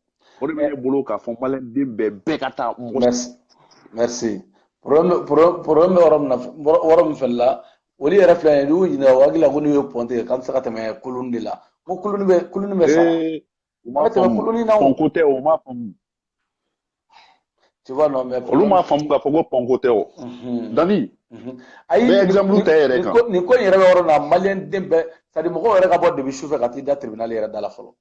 de bɛ ne bolo k'a fɔ maliyɛnden bɛɛ bɛɛ ka taa mɔgɔ merci problème bɛ yɔrɔ min na yɔrɔ min fɛnɛ la olu yɛrɛ filɛ nin ye n'u ɲininka u hakili la ko n'u ye pɔn tigɛ k'an tɛ se ka tɛmɛ kulun de la ko kulun bɛ kulun bɛ sa u m'a faamu pɔnko tɛ o m'a faamu olu m'a faamu k'a fɔ ko pɔnko tɛ o dani ayi bɛ exemple ta yɛrɛ kan nin ko in yɛrɛ bɛ yɔrɔ min na maliyɛnden bɛɛ c'est à dire mɔgɔw yɛrɛ ka bɔ depuis su fɛ ka t'i da tribunal yɛrɛ da la fɔlɔ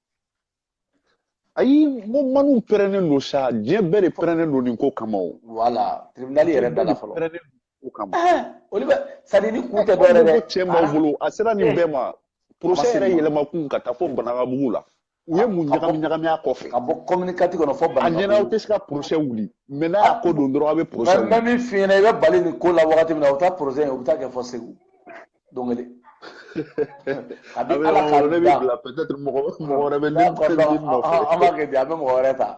ayi n ko maniw pɛrɛnnen don sa diɲɛ bɛɛ de pɛrɛnnen don nin ko kama o voilà tribunal yɛrɛ da la fɔlɔ ko kama olu bɛ c'est à dire ni kun tɛ dɔwɛrɛ dɛ cɛ b'aw bolo a sera nin bɛɛ ma procès yɛrɛ yɛlɛma kun ka taa fo banagabugu la u ye mun ɲagami ɲagami a kɔfɛ ka bɔ commune quatre kɔnɔ fo a ɲɛna aw tɛ se ka procès wuli mais n'a y'a ko don dɔrɔn aw bɛ procès wuli mɛ min f'i ɲɛna i bɛ bali nin ko la wagati min na u bɛ taa procès u bɛ taa kɛ fo segu don kelen a bɛ ala ka ne bɛ bila peut-être mɔgɔ mɔgɔ wɛrɛ bɛ ne nɔfɛ an b'a kɛ di an bɛ mɔgɔ wɛrɛ ta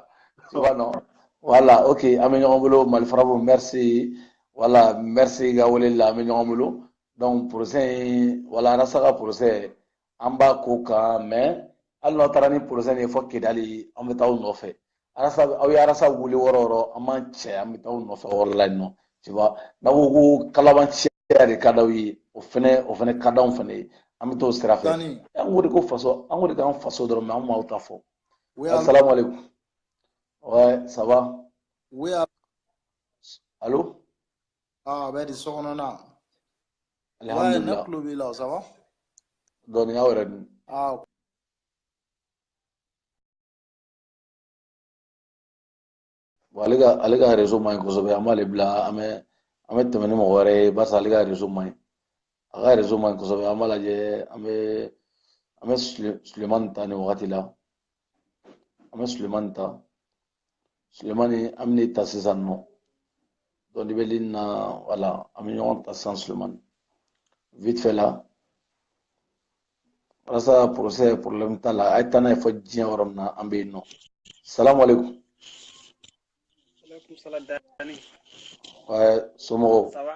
subahana voilà ok an bɛ ɲɔgɔn bolo mali farabu merci voilà merci ka wele la an bɛ ɲɔgɔn bolo donc procès in voilà arasta ka procès an b'a ko kan mais hali n'aw taara ni procès nin ye fɔ kidali an bɛ taa aw nɔfɛ arasa aw ye arasa wuli yɔrɔ o yɔrɔ an b'an cɛ an bɛ taa aw nɔfɛ o yɔrɔ la yen nɔ tu vois n'aw ko ko kalabanciya de ka d'aw ye o fɛnɛ o fɛnɛ ka d'anw fɛnɛ ye an bɛ t'o sira fɛ an ko de ko faso an ko de k'an faso dɔrɔn mais an m'aw ta fɔ asalamu aleykum ouais ça va oui allô Ah, bɛ di so kɔnɔna. Alhamdulillah ne tulo b'i la, ça va dɔɔni, aw yɛrɛ dun? Ah, bon ale ka ale ka réseau man ɲi kosɛbɛ an b'ale bila an bɛ an bɛ tɛmɛ ni mɔgɔ wɛrɛ ye barisa ale ka réseau man ɲi a ka réseau man ɲi kosɛbɛ an b'a lajɛ an bɛ an bɛ sulemani ta nin wagati la an bɛ sulemani ta sulemani an bɛna ta sisan nɔ donc i bɛ ligne na voilà an bɛ ɲɔgɔn ta sisan sulemani vite fait la arasa procès problème t'a la a ye taa n'a ye fɔ diɲɛ yɔrɔ min na an bɛ yen nɔ salamu aleykum. aleykum salaam dani. somɔgɔw. ça va.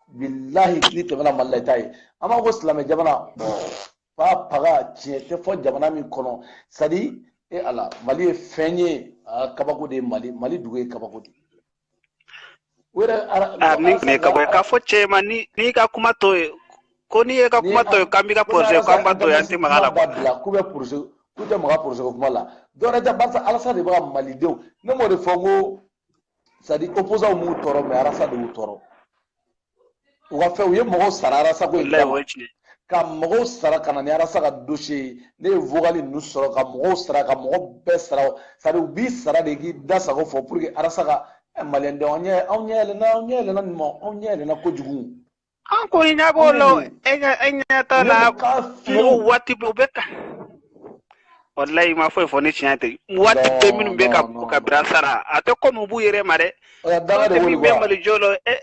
bilahi n'i tɛmɛna mali la i t'a ye an b'a ko silamɛ jamana fa paga tiɲɛ tɛ fɔ jamana min kɔnɔ c'est-à-dire e ala mali ye fɛn ye kabako de ye mali mali dugu ye kabako de min tun ye kabako ye k'a fɔ cɛ ma n'i ka kuma to ye ko n'i ye ka kuma to ye k'an b'i ka procès k'an b'a to ye an tɛ maga a la k'u bɛ procès k'u tɛ maga procès ko kuma la dɔwɛrɛ tɛ barisa arasa de bɛ ka malidenw ne m'o de fɔ ko c'est-à-dire opposant m'u tɔɔrɔ mais arasa de y'u tɔɔrɔ u ka fɛn u ye mɔgɔw sara arasa ko in kama ka mɔgɔw sara ka na ni arasa ka dossier ye ne ye vocal ninnu sɔrɔ ka mɔgɔw sara ka mɔgɔ bɛɛ sara c'est-à-dire u b'i sara de k'i da sago fɔ pour que arasa ka maliyɛndenw anw ɲɛ anw ɲɛ yɛlɛna anw ɲɛ yɛlɛna nin ma anw ɲɛ yɛlɛna kojugu an ko i ɲɛ b'o la o, e ɲɛ e ɲɛ t'a la Ne bɛ k'a fiyɛ o. mɔgɔw waati bɛɛ u bɛ ka walayi i ma foyi fɔ ni tiɲɛ tɛ waati Non, bɛɛ minnu bɛ ka non, non, ka non. bira sara a tɛ kɔmi u b'u yɛrɛ ma dɛ O la daga de min bɛ wolo mali jɔ la e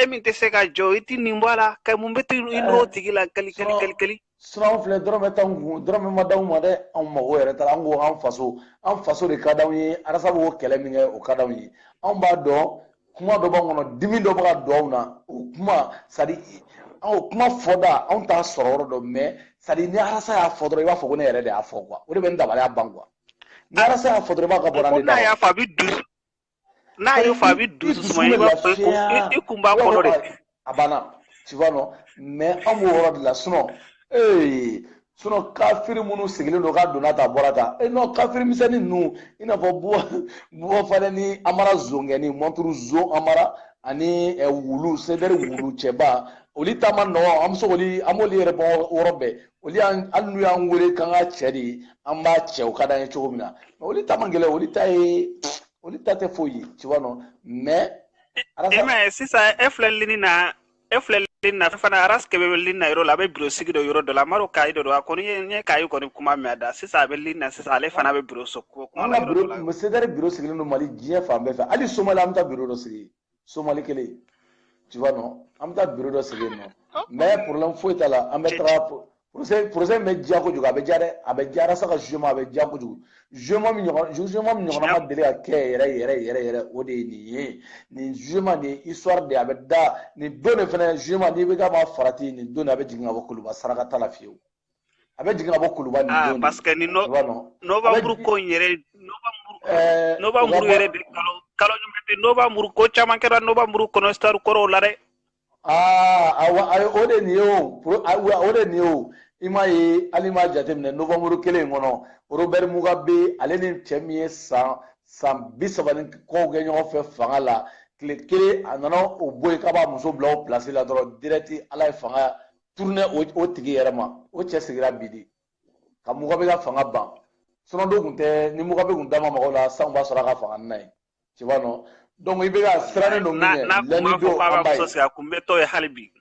e min tɛ se ka jɔ i tɛ nin bɔ a la ka mun bɛ t'i i n'o tigi la kali kali kali kali sinon filɛ dɔrɔmɛ t'an kun dɔrɔmɛ ma d'anw ma dɛ anw mago yɛrɛ t'a la an ko an faso an faso de ka d'anw ye arasa b'o kɛlɛ min kɛ o ka d'anw ye anw b'a dɔn kuma dɔ b'an kɔnɔ dimi dɔ bɛ ka don anw na o kuma c'est-à-dire o kuma fɔda anw t'a sɔrɔ yɔrɔ dɔ mais c'est-à-dire ni arasa y'a fɔ dɔrɔn i b'a fɔ ko ne yɛrɛ de y'a fɔ quoi o de bɛ n dabaliya ban quoi ni arasa y'a fɔ dɔrɔn i b'a k'a bɔra ne da n'a y'o fɔ a bɛ dusu suma i b'a fɔ i kun b'a kɔnɔ de a banna tu vois non mais an b'o yɔrɔ de la sinon ee sinon kafiri minnu sigilen don k'a donna ta bɔra ta e non kafiri misɛnnin ninnu i n'a fɔ buwa buwa fana ni amara zongɛni mɔnturu zon amara ani wulu sedɛri wulu cɛba olu ta ma nɔgɔn an bɛ se k'olu an b'olu yɛrɛ bɔ yɔrɔ bɛɛ olu y'an hali n'u y'an wele k'an ka cɛ de an b'a cɛ o ka d'an ye cogo min na mais olu ta man gɛlɛn olu ta ye olu ta tɛ foyi ye tu vois non mais e mais sisan e filɛ lini na e filɛ lini na fana aras kebe bɛ lini na yɔrɔ la a bɛ biro sigi dɔ yɔrɔ dɔ la maro kayi dɔ don a kɔni ye n ye kayi kɔni kuma mɛn a da sisan a bɛ lini na sisan ale fana bɛ biro so kuma la yɔrɔ dɔ la sedɛri biro sigilen don mali diɲɛ fan bɛɛ fɛ hali somali an bɛ taa biro dɔ sigi somali kelen tu vois non an bɛ taa biro dɔ sigi yen non mais problème foyi t'a la an bɛ taga procès procès bɛ diya kojugu a bɛ diya dɛ a bɛ diya ras ka jugement a bɛ diya kojugu jugement min ɲɔgɔn jugement min ɲɔgɔnna ma deli ka kɛ yɛrɛ yɛrɛ yɛrɛ yɛrɛ o de ye nin ye nin jugement nin histoire de a bɛ da nin don de fana jugement n'IBK ma farati nin don de a bɛ jigin ka bɔ kuluba saraka t'a la fiyewu a bɛ jigin ka bɔ kuluba nin don de parce que ni novamburu ko in yɛrɛ novamburu eh, yɛrɛ de kalo kalo ɲuman tɛ novamburu ko caman kɛra novamburu kɔnɔ histoire kɔrɔw la dɛ aa ah, awa ayi o de nin ye o o de nin ye o i m'a ye hali m'a jateminɛ novamburu kelen in kɔnɔ robɛri mugabe ale ni cɛ min ye san san bi saba ni kɔw kɛ ɲɔgɔn fɛ fanga la tile kelen a nana o bɔ yen k'a b'a muso bila o pilasi la dɔrɔn direct ala ye fanga tourner o tigi yɛrɛ ma o cɛ sigira bi de ka mugabe ka fanga ban sinon n'o tun tɛ ni mugabe tun da ma maga o la saya b'a sɔrɔ a ka fanga nin na yen tu vois non donc IBK sirannen don min ɲɛ lɛndi don an b'a ye a kun bɛ tɔ ye hali bi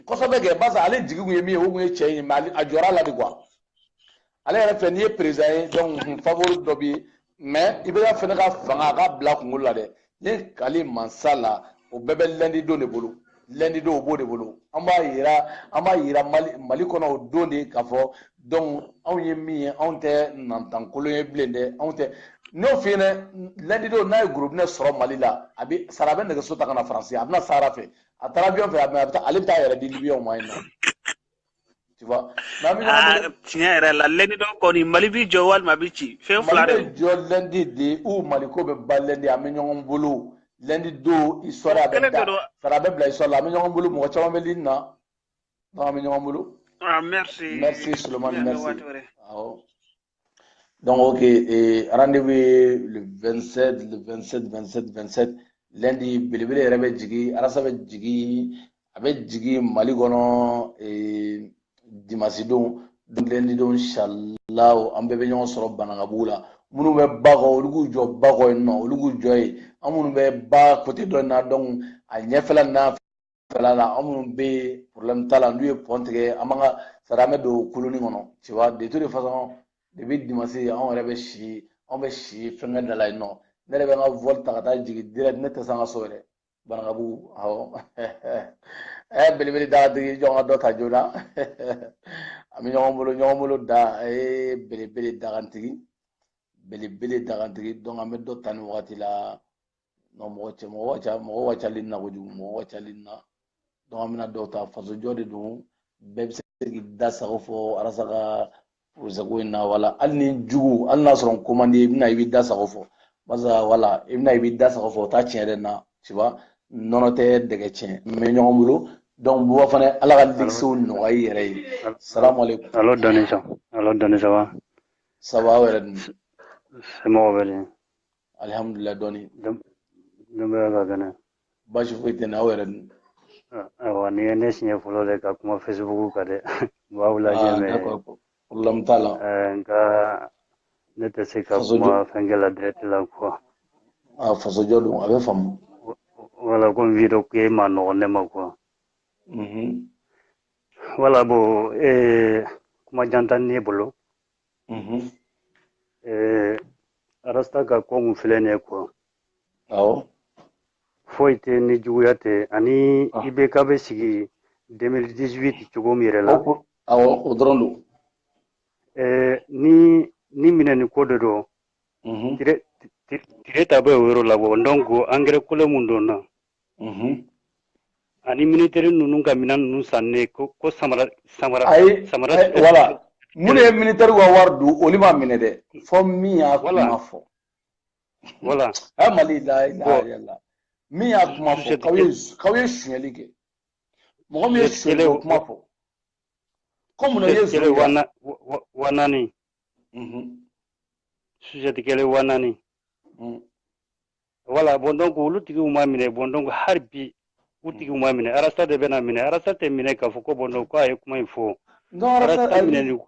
kosɛbɛ kɛ barisa ale jigi tun ye min ye o tun ye cɛ in ye mais a jɔrɔla de quoi ale yɛrɛ fɛ n'i ye président ye donc favori dɔ bɛ yen mais IBK fana ka fanga a ka bila kunkolo la dɛ ni kali mansa la o bɛɛ bɛ lɛndi don de bolo lɛndi don o b'o de bolo an b'a yira an b'a yira mali mali kɔnɔ o don de k'a fɔ donc anw ye min ye anw tɛ nantankolon ye bilen dɛ anw tɛ n'o fi ɲɛna lɛndi don n'a ye gurubinɛ sɔrɔ mali la a bɛ sara a bɛ nɛgɛso ta ka na faransi a bɛ na sahara fɛ a taara avion fɛ a bɛ taa ale bɛ taa a yɛrɛ di libiyɛnw ma yen non Tu vois. Maa min aa bɛ- tiɲɛ yɛrɛ la lɛndi don kɔni mali b'i jɔ walima a b'i ci fɛn fila Mali de bɛ jɔ lɛndi de ou Mali ko bɛ ban lɛndi an bɛ ɲɔgɔn bolo lɛndi don histoire a bɛ kelen da de don sara a bɛ bila histoire la an bɛ ɲɔgɔn bolo mɔgɔ caman bɛ lini na donc an bɛ ɲɔgɔn bolo ah merci merci Souleymane an bɛ merci waati wɛrɛ awɔ. Donc, ok, et rendez-vous le 27, le 27, 27, 27. Lundi, belebele yɛrɛ bɛ jigin, arasa bɛ jigin, a bɛ jigin Mali kɔnɔ ee, dimansi don. Donc, lundi don, inshallah, an bɛɛ bɛ ɲɔgɔn sɔrɔ Banankabugu la. Minnu bɛ ba kɔ, olu k'u jɔ ba kɔ yen nɔ, olu k'u jɔ yen. An minnu bɛ ba côté dɔ in na, donc a ɲɛfɛla n'a fanfɛla la an minnu bɛ problème t'a la n'u ye pɔn tigɛ an b'an ka sara an bɛ don koloni kɔnɔ tu vois de toute façon depuis dimanche anw yɛrɛ bɛ si anw bɛ si fɛnkɛ da la yen nɔ ne yɛrɛ bɛ n ka vol ta ka taa jigin direct ne tɛ se an ka so yɛrɛ Banankabugu awɔ ɛ belebele dakantigi jɔn ka dɔ ta joona an bɛ ɲɔgɔn bolo ɲɔgɔn bolo da ee belebele dakantigi belebele dakantigi donc an bɛ dɔ ta nin wagati la non mɔgɔ cɛ mɔgɔ ka ca mɔgɔ ka cali na kojugu mɔgɔ ka cali na donc an bɛna dɔw ta fasojɔ de don bɛɛ bɛ se k'i da sago fɔ arasa ka procès ko in na wala hali n'i jugu hali n'a sɔrɔ n ko man di i bɛna i b'i da sago fɔ barisa wala i bɛna i b'i da sago fɔ o t'a tiɲɛ yɛrɛ na tu vois nɔnɔ tɛ dɛgɛ tiɲɛ an bɛ ɲɔgɔn bolo donc buba fana ala ka ligisew nɔgɔya i yɛrɛ ye salamu aleykum alo dɔni ça alo dɔni ça va ça va aw yɛrɛ dun somɔgɔw bɛ di alihamudulila dɔɔni denbaya ka kɛnɛ baasi foyi tɛ n na aw yɛrɛ dun ayiwa nin ye ne siɲɛ fɔlɔ de ka kuma fesibuku kan dɛ n b'aw lajɛ mais problème t'a la nka ne tɛ se ka kuma fɛnkɛ la direct la quoi a fasojɔ don a b'a faamu voilà comme vidéo ko in man nɔgɔn ne ma quoi voilà bon kuma jan tɛ ne bolo eh, arasta ka ko mun filɛ nin ye quoi foyi tɛ ni juguya tɛ ani ah. IBK bɛ sigi 2018 cogo min yɛrɛ la o dɔrɔn don eh, ni nin minɛni ko de don mhm. tire ta bɛ o yɔrɔ la bon donc angɛrɛ kolon mun donna mhm. ani militaire ninnu ka minɛn ninnu sannen ko ko samara samara samara voilà munnu ye militaire ka wari dun olu ma minɛ dɛ fɔ min y'a kuma fɔ voilà a mali la yala min y'a kuma fɔ k'aw ye k'aw ye sonyali kɛ mɔgɔ min ye sonyali o kuma fɔ ko mun ye sonyali wa naani mhm. chaussette kelen wa naani mhm. voilà bon donc olu tigiw ma minɛ bon donc hali bi u hmm. tigiw ma minɛ arasa de bɛna minɛ arasa tɛ minɛ k'a fɔ ko bon donc ko a ye kuma in fɔ arasa minɛ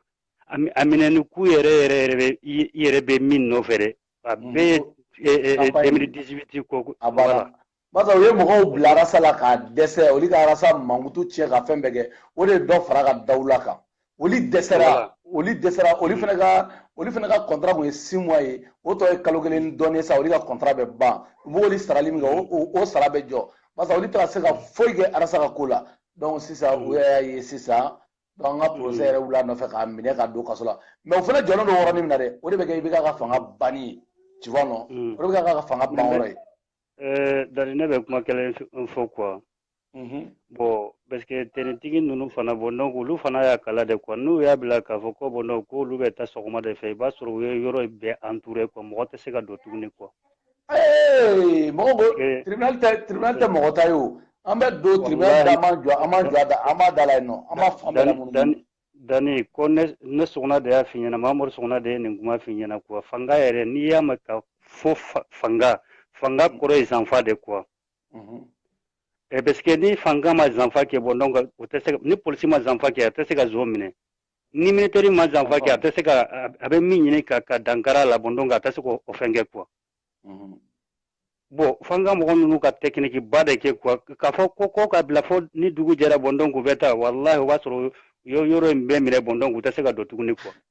a minɛni kun yɛrɛ yɛrɛ yɛrɛ i yɛrɛ bɛ min nɔfɛ dɛ a hmm. bɛɛ ye 2018 ko voilà basa u ye mɔgɔw bila arasa la k'a dɛsɛ olu ka arasa mankutu tiɲɛ ka fɛn bɛɛ kɛ o de ye dɔ fara a ka dawula kan olu dɛsɛra olu dɛsɛra olu fana ka olu fana ka kɔntara kun ye six mois ye o tɔ ye kalo kelen ni dɔɔnin sa olu ka kɔntara bɛ ban u b'olu sarali min kɛ o sara bɛ jɔ barisa olu tɛ ka se ka foyi kɛ arasa ka ko la donc sisan u y'a ye sisan donc an ka procès yɛrɛ wuli a nɔfɛ k'a minɛ k'a don kaso la mais o fana jɔlen don yɔrɔnin min na dɛ o de bɛ kɛ IBK ka fanga banni ye tu vois non o de bɛ k'a ka fanga ban yɔrɔ ye. dani ne bɛ kuma kelen fɔ quoi bon parce que tenitigi ninnu fana bon donc olu fana y'a kalan de quoi n'u y'a bila k'a fɔ ko bon donc ko olu bɛ taa sɔgɔma de fɛ i b'a sɔrɔ u ye yɔrɔ bɛɛ entourer quoi mɔgɔ tɛ se ka don tuguni quoi mɔgɔ ko tribunal tɛ mɔgɔ ta ye o an bɛ don tribunal da an b'a da la yen nɔ an b'a fan bɛɛ lamunumunu dani ko ne suguna de y'a f'i ɲɛna mamadu suguna de ye nin kuma f'i ɲɛna quoi fanga yɛrɛ n'i y'a mɛn k'a fɔ fanga fanga kɔrɔ ye zanfa de quoi Mhm. Eh, parce que ni fanga ma zanfa kɛ bon donc o tɛ se ni polisi ma zanfa kɛ a tɛ se ka zon minɛ ni militɛri ma zanfa kɛ a tɛ se ka a bɛ min ɲini ka ka dankar'a la bon donc a tɛ se k'o fɛn kɛ quoi mhm. bon fanga mɔgɔ ninnu ka tɛkiniki ba de kɛ quoi k'a fɔ ko ko k'a bila fo ni dugu jɛra bon donc u bɛ taa walahi o b'a sɔrɔ yɔrɔ in bɛɛ minɛ bon donc u tɛ se ka don tuguni quoi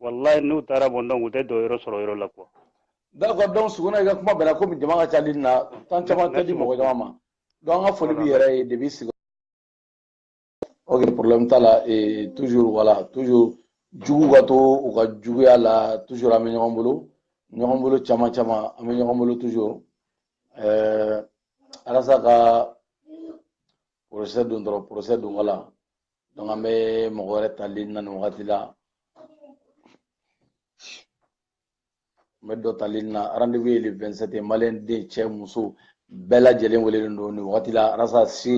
wallahi n'u taara bon donc u tɛ don yɔrɔ sɔrɔ yɔrɔ la quoi d'accord donc suguna i ka kuma bɛnna komi jama ka ca ligne na temps caman tɛ di mɔgɔ caman ma donc an ka foli b'i yɛrɛ ye depuis sigi ok problème t'a la et toujours voilà toujours juguw ka to u ka juguya la toujours an bɛ ɲɔgɔn bolo ɲɔgɔn bolo caman caman an bɛ ɲɔgɔn bolo toujours ɛɛ arasa ka procès don dɔrɔn procès don voilà donc an bɛ mɔgɔ wɛrɛ ta ligne na nin wagati la n bɛ dɔ ta ligne na rendez-vous ye le 27 ye maliyɛn den cɛ muso bɛɛ lajɛlen welelen don nin wagati la arasa si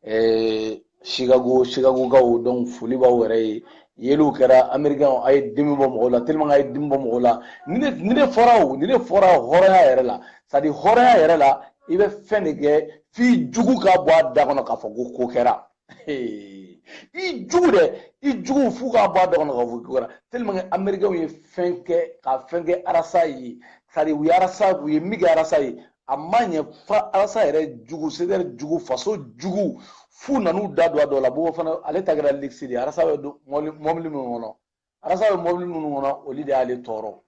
eh, chicago chicagokaw donc foli b'aw yɛrɛ ye yeliw kɛra américain a ye dimi bɔ mɔgɔw la tellement a ye dimi bɔ mɔgɔw la ni ne ni ne fɔra o ni ne fɔra hɔrɔnya yɛrɛ la c'est à dire hɔrɔnya yɛrɛ la i bɛ fɛn de kɛ f'i jugu k'a bɔ a da kɔnɔ k'a fɔ ko ko kɛra i jugu dɛ i jugu f'u k'a bɔ a da kɔnɔ k'a fɔ ko kɛra tellement que américains ye fɛn kɛ ka fɛn kɛ arasa ye c'est à dire u ye arasa u ye min kɛ arasa ye a ma ɲɛ fo arasa yɛrɛ jugu c'est à dire jugu faso jugu f'u nan'u da don a dɔ la buba fane ale ta kɛra luxe de ye arasa bɛ mɔbili minnu kɔnɔ arasa bɛ mɔbili minnu kɔnɔ olu de y'ale tɔɔrɔ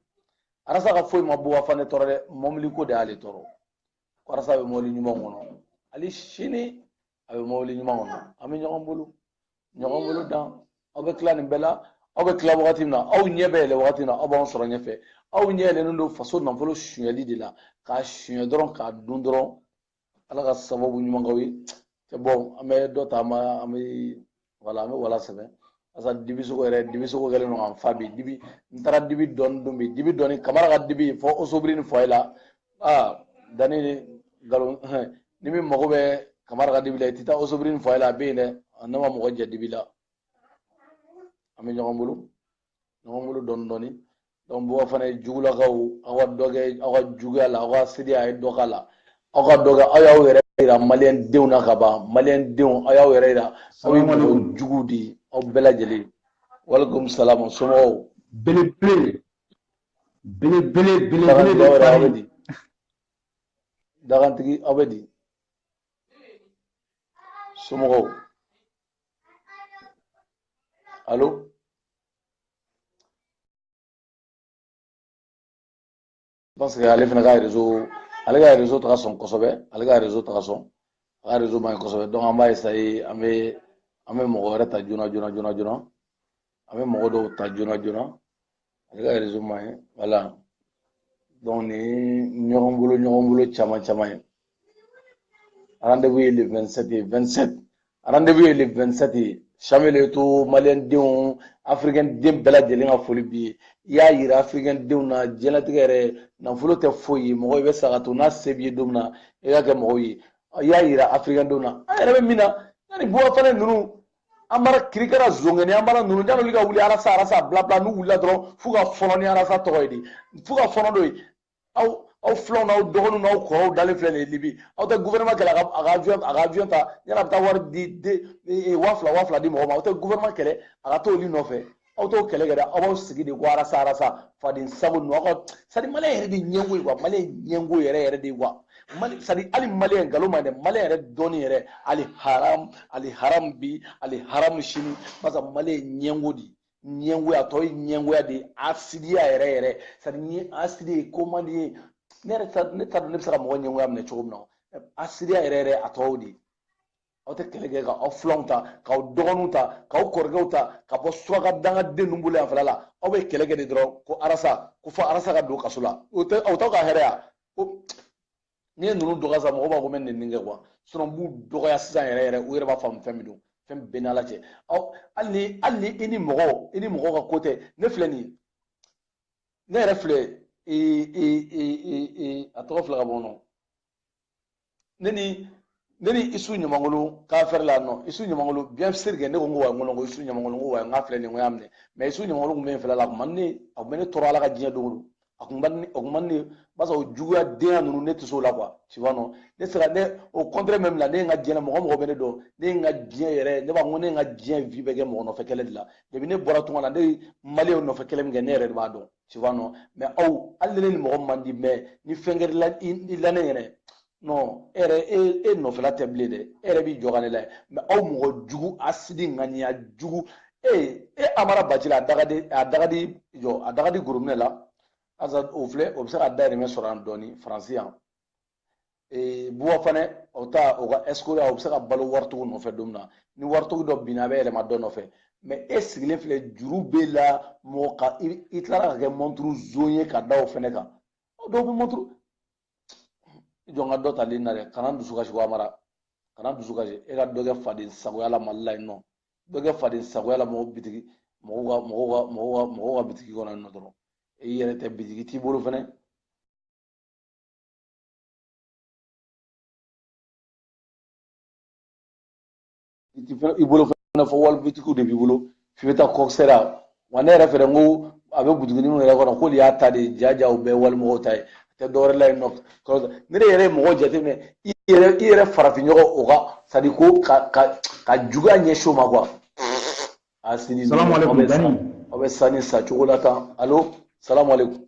arasa ka foyi ma buba fane tɔɔrɔ dɛ mɔbili ko de y'ale tɔɔrɔ arasa bɛ mɔbili ɲuman kɔnɔ hali sini a bɛ mobili ɲuman kɔnɔ an bɛ ɲɔgɔn bolo ɲɔgɔn bolo dan aw bɛ tila nin bɛɛ la aw bɛ tila wagati min na aw ɲɛ bɛ yɛlɛ wagati min na aw b'an sɔrɔ ɲɛfɛ aw ɲɛ yɛlɛlen don faso nafolo sonyɛli de la k'a sonyɛ dɔrɔn k'a dun dɔrɔn ala ka sababu ɲuman k'aw ye c'est bon an bɛ dɔ ta an bɛ wala an bɛ wala sɛbɛn asa dibi sogo yɛrɛ dibi sogo kɛlen don k'an fa bi dibi n taara dibi dɔɔni dun bi dibi dɔɔni kamara ka dibi fɔ osobiri ni foyer la aa dani ni nkalon ni min mago bɛ kamara ka dibi la i tɛ taa osobiri ni foyer la a bɛ yen dɛ ne ma mɔgɔ jɛ dibi la an bɛ ɲɔgɔn bolo ɲɔgɔn bolo dɔɔni dɔɔni donc buwafana ye jugulakaw aw ka dɔ kɛ aw ka juguya la aw ka asidiya a ye dɔ k'a la aw ka dɔ kɛ aw y'aw yɛrɛ yira maliyɛn denw na ka ban maliyɛn denw aw y'aw yɛrɛ yira aw ye mɔgɔ juguw de ye aw bɛɛ lajɛlen walekum salamu somɔgɔw belebele belebele belebele de aw bɛ di dagantigi aw bɛ di somɔgɔw allo parce que ale fana ka rezo ale ka rezo tɛ ka sɔn kosɛbɛ ale ka rezo tɛ ka sɔn a ka rezo man ɲi kosɛbɛ donc an b'a essayer an bɛ an bɛ mɔgɔ wɛrɛ ta joona joona joona joona an bɛ mɔgɔ dɔw ta joona joona ale ka rezo man ɲi voilà donc ni ɲɔgɔn bolo ɲɔgɔn bolo caman caman ye rendez-vous ye le 27 ye 27 rendez-vous ye le 27 ye Samuel Eto'o maliyɛn denw afirikɛn den bɛɛ lajɛlen ka foli b'i ye i y'a yira afirikɛn denw na diɲɛlatigɛ yɛrɛ nafolo tɛ foyi ye mɔgɔ i bɛ sa k'a to n'a se b'i ye don min na i ka kɛ mɔgɔw ye i y'a yira afirikɛn denw na an yɛrɛ bɛ min na yan ni buwafana ninnu an bara kirikara zongɛni an bara ninnu yanni olu ka wuli arasa arasa blabla n'u wulila dɔrɔn f'u ka fɔlɔ ni arasa tɔgɔ ye de f'u ka fɔlɔ n'o ye aw aw filanw n'aw dɔgɔninw n'aw kɔrɔw dalen filɛ nin ye libi aw tɛ gouvernement kɛlɛ a ka avion a ka avion ta yanni a bɛ taa wari di de waa fila waa fila di mɔgɔ ma aw tɛ gouvernement kɛlɛ a ka t'olu nɔfɛ aw t'o kɛlɛ kɛ dɛ aw b'aw sigi de ko arasa arasa faden sago ninnu aw ka c'est-à-dire maliyɛn yɛrɛ de ɲɛngo ye quoi maliyɛn ɲɛngo yɛrɛ yɛrɛ de ye quoi mali c'est-à-dire hali maliyɛn nkalon ma dɛ maliyɛn yɛrɛ dɔnni yɛrɛ ali haram ali haram bi ali haram sini barisa maliyɛn ɲɛngo de ɲɛngoya tɔ ye ɲɛngoya de ye asidiya yɛrɛ yɛrɛ c'est-à-dire ni ye asidi ye ko man di ye ne yɛrɛ ne t'a dɔn ne bɛ se ka mɔgɔ ɲɛngoya minɛ cogo min na asidiya yɛrɛ yɛrɛ a tɔw de ye aw tɛ kɛlɛ kɛ ka aw filanw ta k'aw dɔgɔninw ta k'aw kɔrɔkɛw ta ka bɔ suraka dangaden ninnu bolo yan fana la aw bɛ kɛlɛ kɛ de dɔrɔn ko arasa ko fɔ arasa ka don kaso la o tɛ aw t'aw ka hɛrɛ ya ko n'i ye ninnu dɔgɔya sa mɔgɔw b'a fɔ ko n bɛ nin nin kɛ quoi sinon n b'u dɔgɔya sisan yɛrɛ yɛrɛ u yɛrɛ b'a faamu fɛn min don fɛn bɛɛ n'ala cɛ aw hali ni hali ni i ni mɔgɔ i ni mɔgɔ ka ko tɛ ne filɛ nin ne yɛrɛ filɛ ee ee ee ee a tɔgɔ filɛ ka bɔ nɔ ne ni ne ni isu ɲamangolo k'a fɛrɛ la nɔ isu ɲamangolo bien sûr que ne ko n ko wa n ko ko isu ɲamangolo n ko wa n k'a filɛ nin ko y'a minɛ mais isu ɲamangolo tun bɛ n fɛla la a kun man ne a tun bɛ ne tɔɔrɔ ala ka diɲɛ don o don a kun man ne a kun man ne b'a sɔrɔ juguya denya ninnu ne tɛ se o la quoi tu vois non ne sera ne au contraire même la ne ye n ka diɲɛ na mɔgɔ mɔgɔ bɛ ne dɔn ne ye n ka diɲɛ yɛrɛ ne b'a fɔ ko ne ye n ka diɲɛ vie bɛɛ kɛ mɔgɔ nɔfɛ kɛlɛ de la depuis ne bɔra tunga na ne ye maliyɛnw nɔfɛ kɛlɛ min kɛ ne yɛrɛ de b'a dɔn tu vois non mais aw hali ni ne ni mɔgɔ man di mais ni fɛn kɛra i la ne yɛrɛ non e yɛrɛ e e nɔfɛla tɛ bilen dɛ e yɛrɛ b'i jɔ ka ne lajɛ mais aw mɔgɔ jugu asidi ŋaniya jugu e e amara bacili a dagadi a dagadi jɔ a dagadi gorominɛ la asa o filɛ o bɛ se ka dayirimɛ sɔrɔ yan dɔɔni faransi yan ee buwa fana o ta o ka escroc o bɛ se ka balo waritigiw nɔfɛ don min na ni waritigi dɔ binna a bɛ yɛlɛma dɔ nɔfɛ mais e sigilen filɛ juru b'e la mɔgɔ ka i tilara ka kɛ mɔnturu zon ye ka da o fɛnɛ kan dɔw bɛ mɔnturu jɔ n ka dɔ tali na dɛ kana dusu kasi amara kana dusu kasi e ka dɔ kɛ faden sagoya la mali la yen nɔ dɔ kɛ faden sagoya la mɔgɔ bitigi mɔgɔw ka mɔgɔw ka mɔgɔw ka mɔgɔw ka bitigi kɔnɔ yen nɔ dɔrɔn i yɛrɛ tɛ bitigi t'i bolo fɛnɛ i bolo fana fɔ wali bitikiw de b'i bolo f'i bɛ taa kɔkisɛra wa ne yɛrɛ fɛnɛ n ko a bɛ butiginin minnu yɛrɛ kɔnɔ k'olu y'a ta de ja ja u bɛɛ walimɔgɔw ta ye a tɛ dɔwɛrɛ la yen nɔ ne de yɛrɛ ye mɔgɔ jateminɛ i yɛrɛ i yɛrɛ farafinɲɔgɔn o ka c'est à dire ko ka ka ka juguya ɲɛsin o ma quoi asidi aw bɛ sa nin sa cogo la tan alo salamalekun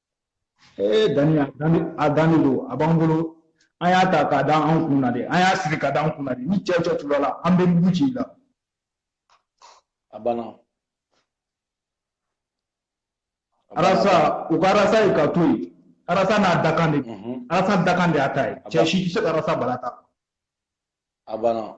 ee dani a danni a danni don a b'an bolo an y'a ta k'a da an kun na de an y'a siri k'a da an kun na de ni cɛ cɛ tura a la an bɛ mugu ci i la a banna arasa u ka arasa ye k'a to yen arasa n'a dakan de mhm. arasa dakan de y'a ta ye cɛ si tɛ se ka arasa bala ta a banna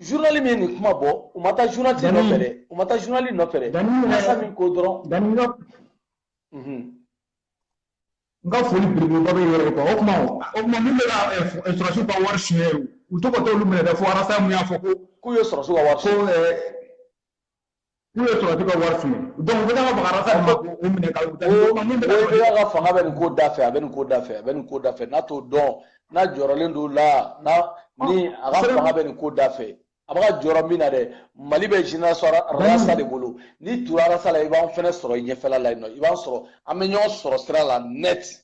journal min ye nin kuma bɔ u ma taa journaliste nɔfɛ dɛ u ma taa journaliste nɔfɛ dɛ arasa min ko dɔrɔn n ka foli belebeleba bɛ yɔrɔ kan o kuma o kuma min bɛ ka sɔrɔsiw ka wari suɲɛ u to ka t'olu minɛ dɛ fo arasa mun y'a fɔ ko k'u ye sɔrɔsiw ka wari ko k'u ye sɔrɔdasi ka wari fili donc u bɛ ka baga arasa ma k'o minɛ ka u taa ibeka ka fanga bɛ nin ko da fɛ a bɛ nin ko da fɛ a bɛ nin ko da fɛ n'a t'o dɔn n'a jɔrɔlen don la n'a ni a ka fanga bɛ nin ko da fɛ a bɛ ka jɔrɔ min na dɛ mali bɛ génération arasa de bolo n'i tura arasa la i b'an fɛnɛ sɔrɔ i ɲɛfɛla la yen nɔ i b'an sɔrɔ an bɛ ɲɔgɔn sɔrɔ sira la net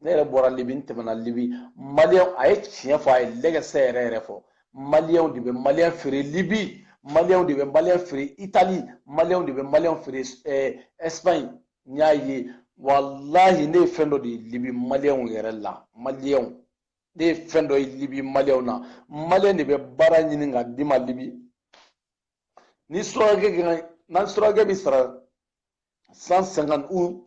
ne yɛrɛ bɔra libi n tɛmɛna libi maliyɛn a ye tiɲɛ fɔ a ye lɛgɛsɛ yɛrɛ yɛrɛ fɔ maliyɛnw de bɛ maliyɛn feere libi maliyɛnw de bɛ maliyɛn feere itali maliyɛnw de bɛ maliyɛnw feere ɛsipaɲi eh, n y'a ye walahi ne ye fɛn dɔ de ye libi maliyɛnw yɛrɛ la maliyɛnw ne ye fɛn dɔ ye libi maliyɛnw na maliyɛn de bɛ baara ɲini ka d'i ma libi ni surakɛ kan na surakɛ b'i sara 150 u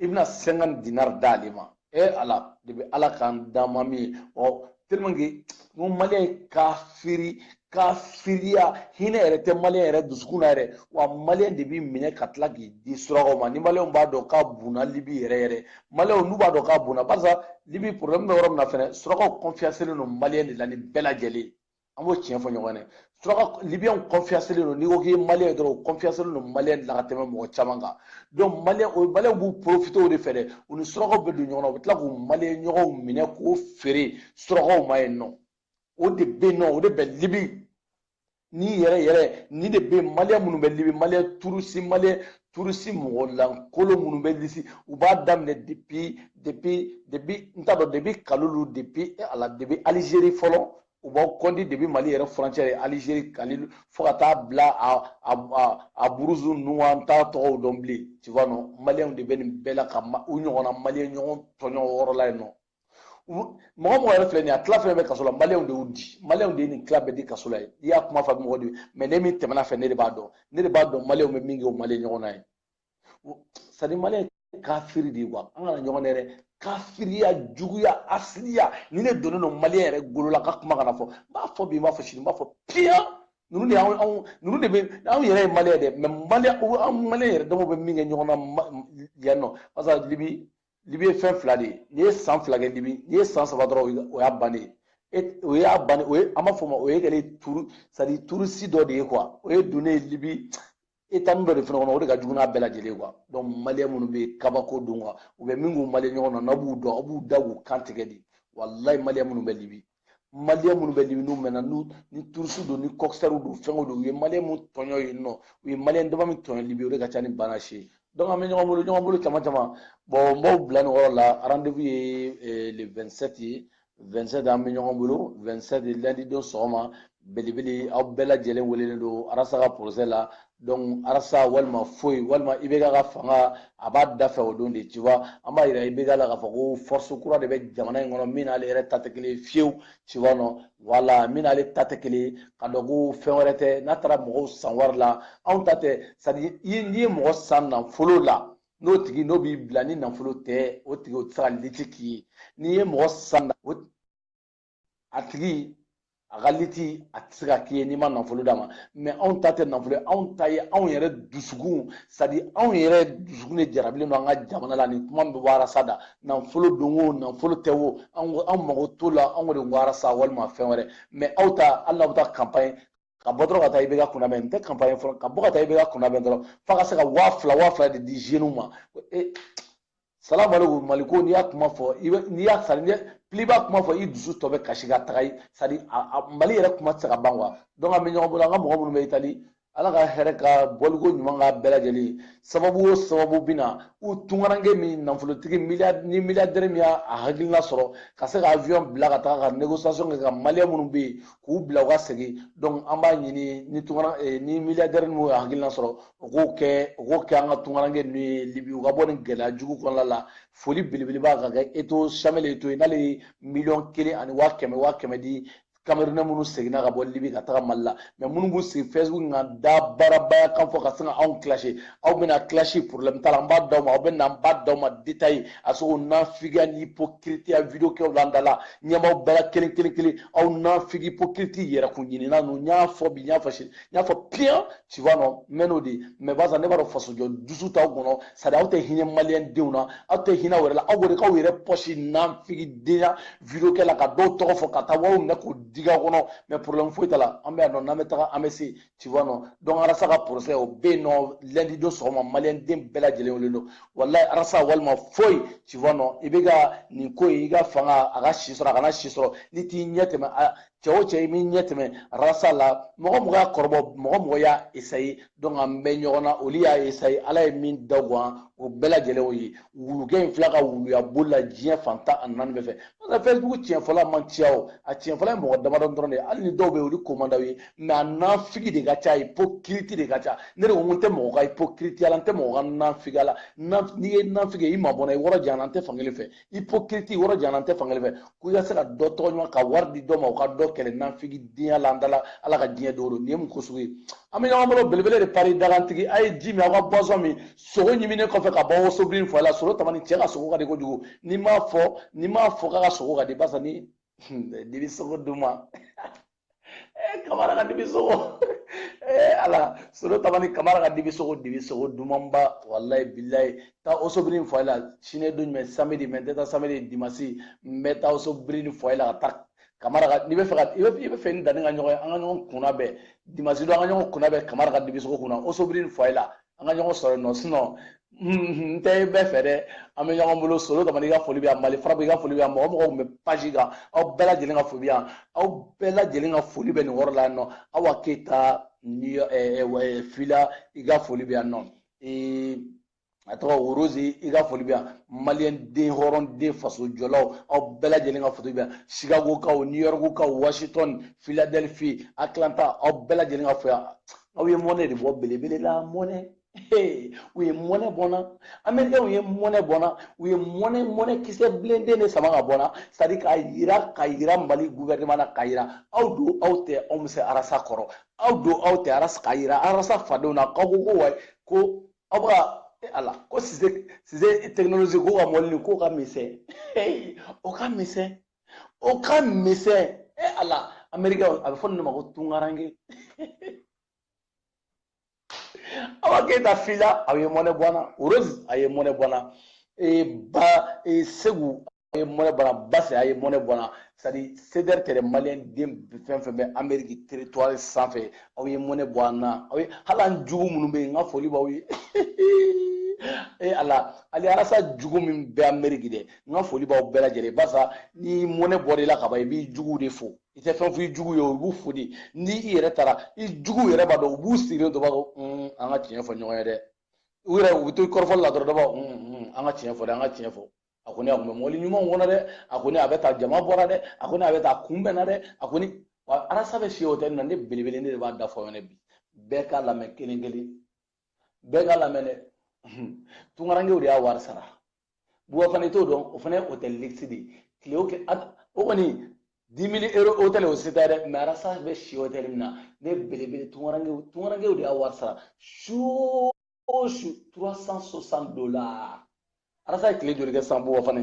i bɛna 50 dinar d'ale ma e ala de bɛ ala k'an dama min ye ɔ tellement que n ko maliyɛn ye kafiri kafiriya hinɛ yɛrɛ tɛ maliyɛn yɛrɛ dusukun na yɛrɛ wa maliyɛn de b'i minɛ ka tila k'i di surakaw ma ni maliyɛnw b'a dɔn k'a bunna libi yɛrɛ yɛrɛ maliyɛnw n'u b'a dɔn k'a bunna barisa libi problème bɛ yɔrɔ min na fɛnɛ surakaw confiancelen don maliyɛn de la ni bɛɛ lajɛlen an b'o tiɲɛ fɔ ɲɔgɔn ye suraka libiyɛnw confiancelen don n'i ko k'i ye maliyɛn ye dɔrɔn o confiancelen don maliyɛn de la ka tɛmɛ mɔgɔ caman kan donc maliyɛn o maliyɛnw b'u profiter o de fɛ dɛ u ni surakaw bɛ don ɲɔgɔn na u bɛ tila k'u maliyɛn ɲɔgɔnw minɛ k'o feere surakaw ma yen nɔ o de bɛ yen nɔ o de bɛ libi ni yɛrɛ yɛrɛ ni de bɛ maliyɛn minnu bɛ libi maliyɛn turusi maliyɛn turusi mɔgɔ lankolo minnu bɛ lisi u b'a daminɛ depuis depuis depuis n t'a dɔn depuis kalilu depuis ala depuis alizeri fɔlɔ u b'aw kɔnti depuis mali yɛrɛ frontière ye alizeri kalilu fo ka taa bila a buruzu ninnu an t'a tɔgɔw dɔn bilen tu vois non maliyɛnw de bɛ nin bɛɛ la ka u ɲɔgɔnna maliyɛn ɲɔgɔn tɔɲɔ o yɔrɔ la yen nɔ mɔgɔ mɔgɔ yɛrɛ filɛ nin ye a tila fɛn bɛ kaso la maliyɛnw de y'u di maliyɛnw de ye nin tila bɛɛ di kaso la ye n'i y'a kuma fɔ mɔgɔ de mais ne min tɛmɛna fɛ ne de b'a dɔn ne de b'a dɔn maliyɛnw bɛ min kɛ u maliyɛn ɲɔgɔn na ye c'est à dire maliyɛn ye kafiri de ye quoi an kana ɲɔgɔn dɛ dɛ kafiriya juguya hasidiya nin de donnen don maliyɛn yɛrɛ golo la ka kuma kana fɔ n b'a fɔ bi n b'a fɔ sini n b'a fɔ piyan ninnu de y'anw anw ninnu de bɛ anw yɛrɛ ye maliyɛn dɛ mais maliyɛn an maliyɛn yɛrɛ damaw bɛ min kɛ ɲɔgɔn na yan nɔ barisa libi libi ye fɛn fila de ye n'i ye san fila kɛ libi n'i ye san saba dɔrɔn o y'a bannen ye e o y'a ban o ye an b'a fɔ ma o ye kɛlen turu c'est à dire turusi dɔ de ye quoi o ye donnen ye libi état dɔ de fana kɔnɔ o de ka jugu n'a bɛɛ lajɛlen ye quoi donc maliyɛn minnu bɛ yen kabako don quoi u bɛ min k'u maliyɛn ɲɔgɔn na n'aw b'u dɔn aw b'u da k'u kan tigɛ de walayi maliyɛn minnu bɛ libi maliyɛn minnu bɛ libi n'u mɛnna n'u ni turusi don ni kɔkisɛriw don fɛnw don u ye maliyɛn minnu tɔɲɔ yen nɔ u ye maliyɛn dama min tɔɲɔ libi o de ka ca ni bana si ye donc an bɛ ɲɔgɔn bolo ɲɔgɔn bolo caman caman bon n b'aw bila nin yɔrɔ la rendez-vous ye eh, le 27 ye 27 an bɛ ɲɔgɔn bolo 27 lundi don sɔgɔma belebele aw bɛɛ lajɛlen welelen don arasa ka procès la donc arasa walima foyi walima IBK ka fanga a b'a da fɛ o don de tu vois an b'a yira IBK la k'a fɔ ko force kura de bɛ jamana in kɔnɔ min n'ale yɛrɛ ta tɛ kelen fiyewu tu vois non voilà min n'ale ta tɛ kelen k'a dɔn ko fɛn wɛrɛ tɛ n'a taara mɔgɔw san wari la anw ta tɛ c'est à dire n'i ye mɔgɔ san nafolo la n'o tigi n'o b'i bila ni nafolo tɛ o tigi o tɛ se ka lutte k'i ye n'i ye mɔgɔ san o a tigi a ka lutte a tɛ se k'a k'i ye n'i ma nafolo d'a ma mais anw ta tɛ nafolo ye anw ta ye anw yɛrɛ dusukun c'est-à-dire anw yɛrɛ dusukun de jarabilen don an ka jamana la nin kuma min bɛ bɔ arasa da nafolo don o nafolo tɛ o anw mago t'o la anw de ko arasa walima fɛn wɛrɛ mais aw ta hali n'aw bɛ taa campagne ka bɔ dɔrɔn ka taa IBK kunnabɛn n tɛ campagne fɔlɔ ka bɔ ka taa IBK kunnabɛn dɔrɔn f'a ka se ka waa fila waa fila de di zeniw ma e salamu aleykum mali ko n'i y'a kuma fɔ i bɛ n'i y'a c'est-à-dire n'i plus i b'a kuma fɔ i dusu tɔ bɛ kasi ka taga ye c'est-à-dire mali yɛrɛ kuma tɛ se ka ban quoi donc an bɛ ɲɔgɔn bolo an ka mɔgɔ minnu bɛ itali ala ka hɛrɛ ka bɔliko ɲuman ka bɛɛ lajɛlen sababu o sababu bɛ na u tungaranke min nafolotigi ni milliardaire min y'a hakilina sɔrɔ ka se ka avion bila ka taga ka négociation kɛ ka maliyɛn minnu bɛ yen k'u bila u ka segin donc an b'a ɲini ni tungara eh, ni milliardaire minnu y'a hakilina sɔrɔ u k'o kɛ u k'o kɛ an ka tungaranke ninnu ye libi u ka bɔ nin gɛlɛya jugu kɔnɔna la foli belebeleba ka kɛ eto'o samuel eto'o ye n'ale ye miliyɔn kelen ani waa kɛmɛ waa kɛmɛ di camerounais minnu seginna ka bɔ libi ka taga mali la mais minnu b'u sigi facebook kan da baarabaya kan fɔ ka sin ka anw clasher aw bɛna clasher problème t'a la n b'a d'aw ma aw bɛ na n b'a d'aw ma détail a sogo nafigiya ni hypocritiya video kɛw la an da la ɲɛmaaw bɛɛ la kelen kelen kelen aw nafigi hypocriti yɛrɛkun ɲinina ninnu n y'a fɔ bi n y'a fɔ sini n y'a fɔ piyan tu vois non n mɛn'o de mais barisa ne b'a dɔn fasojɔ dusu t'aw kɔnɔ c'est-à-dire aw tɛ hinɛ maliyɛn denw na aw tɛ hinɛ wɛrɛ la aw b'o de k'aw yɛrɛ poche nafigidenya video kɛ la ka dɔw tɔgɔ fɔ ka taa wariw minɛ k'o digi aw kɔnɔ mais problème foyi t'a la an bɛ yan nɔ n'an bɛ taga an bɛ se tu vois non donc arasa ka procès o bɛ yen nɔ lundi don sɔgɔma maliyɛn den bɛɛ lajɛlen wele don walayi arasa walima foyi tu vois non IBK nin ko in i ka fanga a ka si sɔrɔ a kana si sɔrɔ n'i t'i ɲɛ tɛmɛ a cɛ o cɛ i b'i ɲɛ tɛmɛ arasa la mɔgɔ mɔgɔ y'a kɔrɔbɔ mɔgɔ mɔgɔ y'a essayer donc an bɛ ɲɔgɔn na olu y'a essayer ala ye min da gan o bɛɛ lajɛlen o ye wulukɛ in fila ka wuluya boli la diɲɛ fan tan ani naani bɛɛ fɛ parce que facebook tiɲɛfɔla man ca o a tiɲɛfɔla ye mɔgɔ damadɔ dɔrɔn de ye hali ni dɔw bɛ yen olu ko man d'aw ye mais a nafigi de ka ca hypocrite de ka ca ne de ko n tɛ mɔgɔ ka hypocrite la n tɛ mɔgɔ ka nafigiya la n'i ye nafige i mabɔ n na i yɔrɔ janya n na n tɛ fankelen fɛ hypocrite i yɔrɔ janya n na n tɛ fankelen fɛ ko i ka se ka dɔ tɔgɔ ɲuman ka wari di dɔ ma o ka dɔ kɛlɛ nafigidenya la an da la ala ka diɲɛ don o don nin ye mun ko sugu ye an bɛ ɲɔgɔn bolo belebele de paris dagantigi a ye ji min aw ka boisson min sogo ɲiminen kɔfɛ ka bɔ rochebrune foyer la soro tamani cɛ ka sogo ka di kojugu n'i m'a fɔ n'i m'a fɔ k'a ka sogo ka di barisa ni dibi sogo duman Eh, kamara ka dibi sogo eh, ala solo tabani kamara ka dibi sogo dibi sogo dumanba walayi bilayi taa rochebrune foyer la sini don jumɛn samedi mais n tɛ taa samedi dimasi n bɛ taa rochebrune foyer la ka taa kamara ka n'i b'a fɛ ka i bɛ i b'a fɛ ni dani ka ɲɔgɔn ye an ka ɲɔgɔn kunnabɛn dimasi don an ka ɲɔgɔn kunnabɛn kamara ka dibi sogo kunna rochebrune foyer la an ka ɲɔgɔn sɔrɔ nɔ sinon n tɛ bɛɛ fɛ dɛ an bɛ ɲɔgɔn bolo solo kamana i ka foli bɛ yan mali farabu i ka foli bɛ yan mɔgɔ mɔgɔ tun bɛ page kan aw bɛɛ lajɛlen ka foli bɛ yan aw bɛɛ lajɛlen ka foli bɛ nin yɔrɔ la yan nɔ awa keyita fila i ka foli bɛ yan nɔ a tɔgɔ worozi i ka foli bɛ yan maliyɛn den hɔrɔn den faso jɔlaw aw bɛɛ lajɛlen ka foli bɛ yan chicago kaw new york kaw washington philadelphie atlanta aw bɛɛ lajɛlen ka fo yan aw ye mɔnɛ de bɔ belebele la mɔnɛ u ye mɔnɛ bɔ an na amerikikaw ye mɔnɛ bɔ an na u ye mɔnɛ mɔnɛ kisɛ bilenden de sama ka bɔ an na c'est-à-dire k'a yira k'a yira mali guvɛrɛneman na k'a yira aw don aw tɛ anw bɛ se arasa kɔrɔ aw don aw tɛ arasa k'a yira arasa fadenw na k'aw ko ko wa ko aw bɛ ka e ala ko sise sise tekinolozi ko ka mɔli ni ko ka misɛn o ka misɛn o ka misɛn e eh, ala ameriki a bɛ fɔ nin de ma ko tunkaranke awa keyita fila a ye mɔnɛ bɔ an na rose a ye mɔnɛ bɔ an na eh, ba eh, segu a ye mɔnɛ bɔ an na basi a ye mɔnɛ bɔ an na c'est-à-dire sedɛri tɛrɛ maliyɛn den fɛn fɛn bɛ ameriki territoire sanfɛ aw ye mɔnɛ bɔ an na aw ye hali an jugu minnu bɛ yen n ka foli b'aw ye e ala ali arasa jugu min bɛ ameriki dɛ n ka foli b'aw bɛɛ lajɛlen barisa ni mɔnɛ bɔra i la ka ban i b'i juguw de fo i tɛ fɛn fɔ i jugu ye o i b'u fo de ni i yɛrɛ taara i juguw yɛrɛ b'a dɔn u b'u sigilen to b'a ko an ka tiɲɛ fɔ ɲɔgɔn ye dɛ u yɛrɛ u bɛ to kɔrɔfɔli la dɔrɔn dɔ b'a an ka tiɲɛ fɔ dɛ an ka tiɲɛ fɔ a kɔni a kun bɛ mɔbili ɲumanw kɔnɔ dɛ a kɔni a bɛ taa jama bɔra dɛ a kɔni a bɛ taa kunbɛnna dɛ a kɔni wa arasa bɛ si hôtel min na ne belebele ne de b'a da fɔ aw ɲɛna bi bɛɛ k'a lamɛn kelen kelen bɛɛ k'a lamɛn dɛ tunkarankew de y'a wari sara buwa fana i t'o dɔn o fana ye hôtel luxe de ye tile o tile o kɔni dix mille euro hôtel o si tɛ dɛ mais arasa bɛ si hôtel min na ne belebele tunkarankew tunkarankew de y'a wari sara su o su trois cent soixante dollars arasa ye tile joli kɛ san buwa fana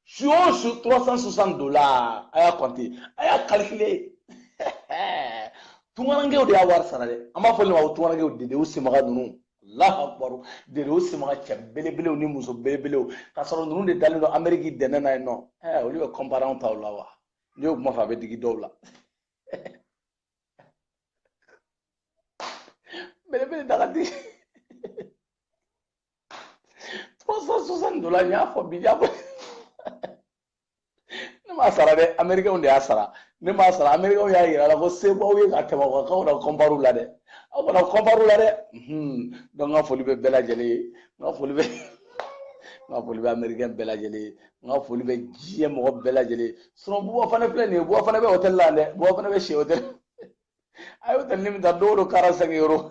su o su 360 dollars a y'a compter a y'a calculer tungarankew de y'a wari sara dɛ an b'a fɔ olu ma ko tungarankew dedew semaga ninnu alahu akubaru dedew semaga cɛ belebelew ni muso belebelew k'a sɔrɔ ninnu de dalen don ameriki dɛnɛ na yen nɔ ɛɛ olu bɛ comparer anw taw la wa n'i y'o kuma fɔ a bɛ digi dɔw la belebele daga digi trois cent soixante dollars n y'a fɔ bi y'a fɔ ne m'a sara dɛ américains de y'a sara ne m'a sara américains y'a yira la ko se b'aw ye ka tɛmɛ aw kan aw kana la dɛ aw kana comparer u la dɛ donc n ka foli bɛ bɛɛ lajɛlen ye n ka foli bɛ n ka foli bɛ américain bɛɛ lajɛlen ye n ka foli bɛ diɲɛ mɔgɔ bɛɛ lajɛlen ye sinon buwa fana filɛ nin ye buwa fana bɛ hôtel la dɛ buwa fana bɛ si hôtel a ye hôtel ni min ta don o don quarante cinq euros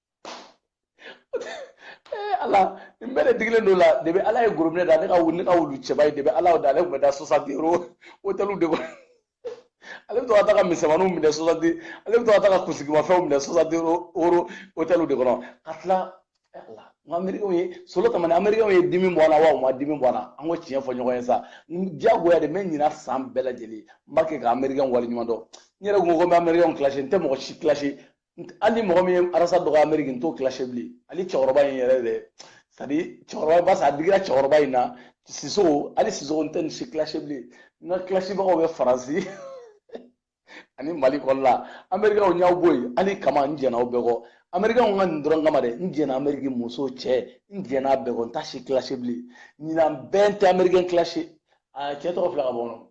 Eh, ala nin bɛɛ de digilen don la de bɛ ala ye gorobinɛ da ne ka wuli ne ka wulu cɛba ye de bɛ ala da ale tun bɛ da soixante euros wotɛliw de kɔnɔ ale bɛ to ka taa ka misɛnmaninw minɛ soixante ale bɛ to ka taa ka kunsigimafɛnw minɛ soixante euros wotɛliw de kɔnɔ ka tila eh, ala n ka amerikɛnw ye solo tamani amerikɛnw ye dimi bɔ an na wa u ma dimi bɔ an na an ka tiɲɛ fɔ ɲɔgɔn ye sa diyagoya de n bɛ ɲinan san bɛɛ lajɛlen n b'a kɛ ka amerikɛn waleɲuman dɔn n yɛrɛ kun ko ko n bɛ amerikɛnw kilasi n tɛ mɔgɔ si kilasi hali ni mɔgɔ min ye arasa dɔgɔ ameriki n t'o kilase bilen hali cɛkɔrɔba in yɛrɛ dɛ c'est-à-dire cɛkɔrɔba basa a digira cɛkɔrɔba in na sisoko hali sisoko n tɛ nin si kilase bilen n ka kilasibagaw bɛ faransi ani mali kɔnɔna amerikɛnw n y'aw bɔ yen ala kama n jɛnna aw bɛɛ kɔ amerikɛnw ka nin dɔrɔn kama dɛ n jɛnna ameriki muso cɛ n jɛnna a bɛɛ kɔ n t'a si kilase bilen ɲinan bɛɛ n tɛ amerikɛn kilase a cɛ tɔgɔ filɛ ka bɔ n kɔnɔ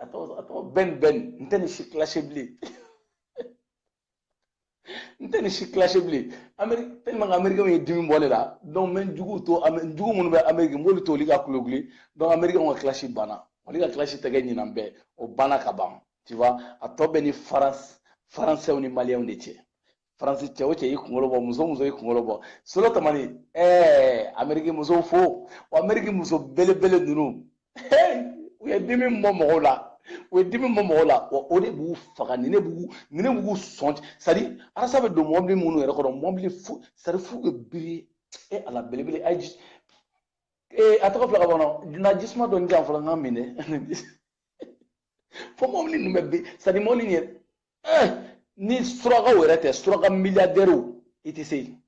a tɔgɔ a tɔgɔ bɛn bɛn n tɛ nin si kilase bilen n tɛ nin si kilase bilen ameri tellement amerikɛnw ye dimi bɔ ne la donc n bɛ jugu to n jugu minnu bɛ ameriki n b'olu to olu ka kulekule donc amerikɛnw ka kilasi banna olu ka kilasi tɛ kɛ ɲinan bɛɛ o banna ka ban tu vois a tɔ bɛ ni faransi faransɛw ni maliyɛnw de cɛ faransi cɛ o cɛ i kunkolo bɔ muso o muso i kunkolo bɔ solo tamani ɛɛ ameriki muso fo wa ameriki muso belebele ninnu u ye dimi bɔ mɔgɔw la o ye dimi bɔ mɔgɔ la wa o de b'u faga ni ne b'u ni ne b'u sɔn c'est-à-dire arasa bɛ don mɔbili minnu yɛrɛ kɔnɔ mɔbili f'u c'est-à-dire f'u bɛ biri e ala belebele a ji ee a tɔgɔ filɛ ka bɔ n na jisuma dɔɔni di yan fɔlɔ n ka min dɛ fo mɔbili ninnu bɛ bin c'est-à-dire mɔbili nin yɛrɛ eh, ni surakaw yɛrɛ tɛ suraka miliyadɛriw i tɛ se yen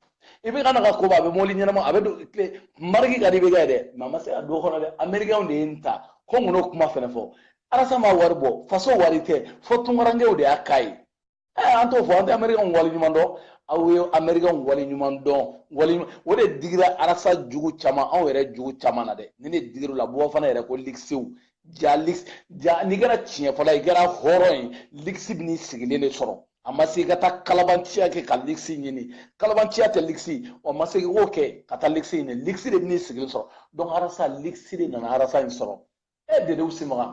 i bɛ ka na ka koba a bɛ mɔbili ɲɛnama a bɛ don tile mariki ka di bɛ kɛ dɛ mais a ma se ka don kɔnɔ dɛ amerikɛnw de ye n ta ko n kana o kuma fɛnɛ fɔ arasa ma wari bɔ faso wari tɛ fo tunkarankew de y'a k'a ye ɛɛ an t'o fɔ an tɛ amerikɛnw wale ɲuman dɔn aw ye amerikɛnw wale ɲuman dɔn wale ɲuman o de digira arasa jugu caman anw yɛrɛ jugu caman na dɛ nin de digir'u la bɔ fana yɛrɛ ko ligisiw ja ligisi ja n'i kɛra tiɲɛ fɔla i kɛra hɔrɔn ye ligisi bɛ n'i sigilen de sɔrɔ a ma se i ka taa kalabanciya kɛ ka ligisi ɲini kalabanciya tɛ ligisi wa ma se i k'o kɛ ka taa ligisi ɲini ligisi de bɛ n'i sigilen sɔrɔ donc arasa ligisi de nana arasa in sɔrɔ e dedew simaga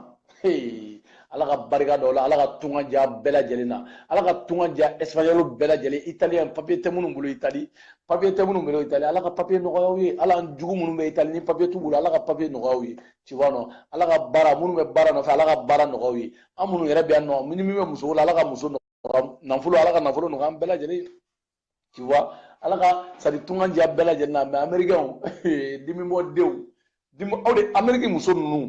ala ka barika don a la ala ka tunga diya bɛɛ lajɛlen na ala ka tunga diya espagnol bɛɛ lajɛlen italien papier tɛ minnu bolo itali papier tɛ minnu bolo itali ala ka papier nɔgɔya u ye hali jugu minnu bɛ itali ni papier t'u bolo ala ka papier nɔgɔya u ye tu vois non ala ka baara minnu bɛ baara nɔfɛ ala ka baara nɔgɔya u ye an minnu yɛrɛ bɛ yan nɔ ni min bɛ muso la ala ka muso nɔgɔya nafolo ala ka nafolo nɔgɔya an bɛɛ lajɛlen tu vois ala ka sadi tunga diya bɛɛ lajɛlen na mɛ amerikɛnw dimibɔdenw aw de ameriki muso ninnu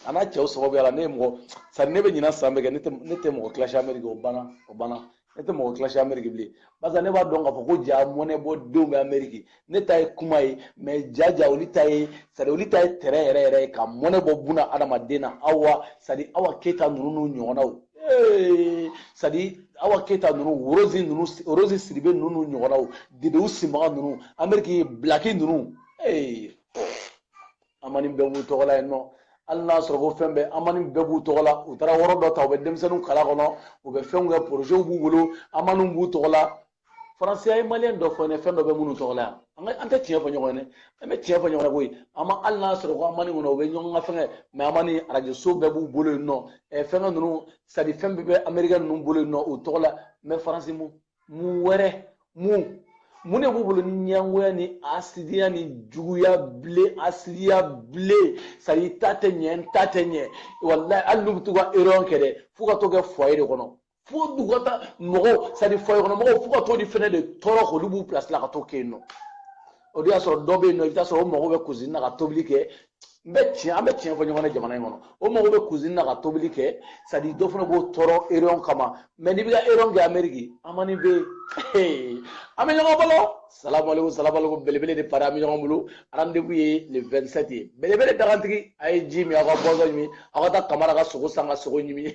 a n'a cɛw sababuya la ne ye mɔgɔ sadi ne bɛ ɲina san bɛɛ kɛ ne tɛ mɔgɔ kilasi ameriki o banna ne tɛ mɔgɔ kilasi ameriki bilen barisa ne b'a dɔn k'a fɔ ko ja mɔnɛbɔdenw bɛ ameriki ne ta ye kuma ye mɛ jaja olu ta ye sadi olu ta ye terrain yɛrɛ yɛrɛ ye ka mɔnɛ bɔ buna adamaden na awa sadi awa keyita ninnu n'u ɲɔgɔnnaw sadi awa keyita ninnu worozi ninnu worozi sidibe ninnu n'u ɲɔgɔnnaw dedew sinbaga ninnu ameriki bilaki ninnu amani bɛɛ b'u tɔgɔ la yen nɔ hali n'a sɔrɔ ko fɛn bɛɛ amani bɛɛ b'u tɔgɔ la u taara yɔrɔ dɔ ta u bɛ denmisɛnninw kalan kɔnɔ u bɛ fɛnw kɛ porozew b'u bolo amaniw b'u tɔgɔ la faransi a ye maliyɛn dɔ fɔ ne fɛn dɔ bɛ minnu tɔgɔ la yan an ka an tɛ tiɲɛ fɔ ɲɔgɔn ye dɛ an bɛ tiɲɛ fɔ ɲɔgɔn ye koyi an ma hali n'a sɔrɔ ko amani kɔnɔ u bɛ ɲɔgɔn ka fɛngɛ mɛ amani arajoso bɛɛ b'u bolo yen nɔ ɛ fɛngɛ ninnu sadi fɛn bɛɛ bɛ amerikɛn ninnu bolo yen nɔ u tɔgɔ la mɛ faransi mun mun wɛrɛ mun mun de b'u bolo ni ɲɛngoya ni asidiya ni juguya bilen asidiya bilen sadi i ta tɛ ɲɛ n ta tɛ ɲɛ walayi hali n'u bɛ to ka réunion kɛ dɛ f'u ka t'o kɛ foyer de kɔnɔ fo u ka taa mɔgɔw sadi foyer kɔnɔ mɔgɔw fo ka t'o de fɛnɛ de tɔɔrɔ k'olu b'u pilasi la ka t'o kɛ yen nɔ o de y'a sɔrɔ dɔ bɛ yen nɔ i bɛ taa sɔrɔ o mago bɛ kuzini na ka tobili kɛ n bɛ tiɲɛ an bɛ tiɲɛ fɔ ɲɔgɔn na jamana in kɔnɔ o mago bɛ kuzini na ka tobili kɛ sadi dɔ fana b'o tɔɔrɔ réunion kama mɛ n'i bɛ ka réunion kɛ ameriki amani bɛ yen an bɛ ɲɔgɔn bolo salamaleko salamaleko belebele de pari an bɛ ɲɔgɔn bolo rendez-vous ye le 27 ye belebele dagantigi a ye ji min aw ka boisson ɲimi aw ka taa kamara ka sogo san ka sogo ɲimi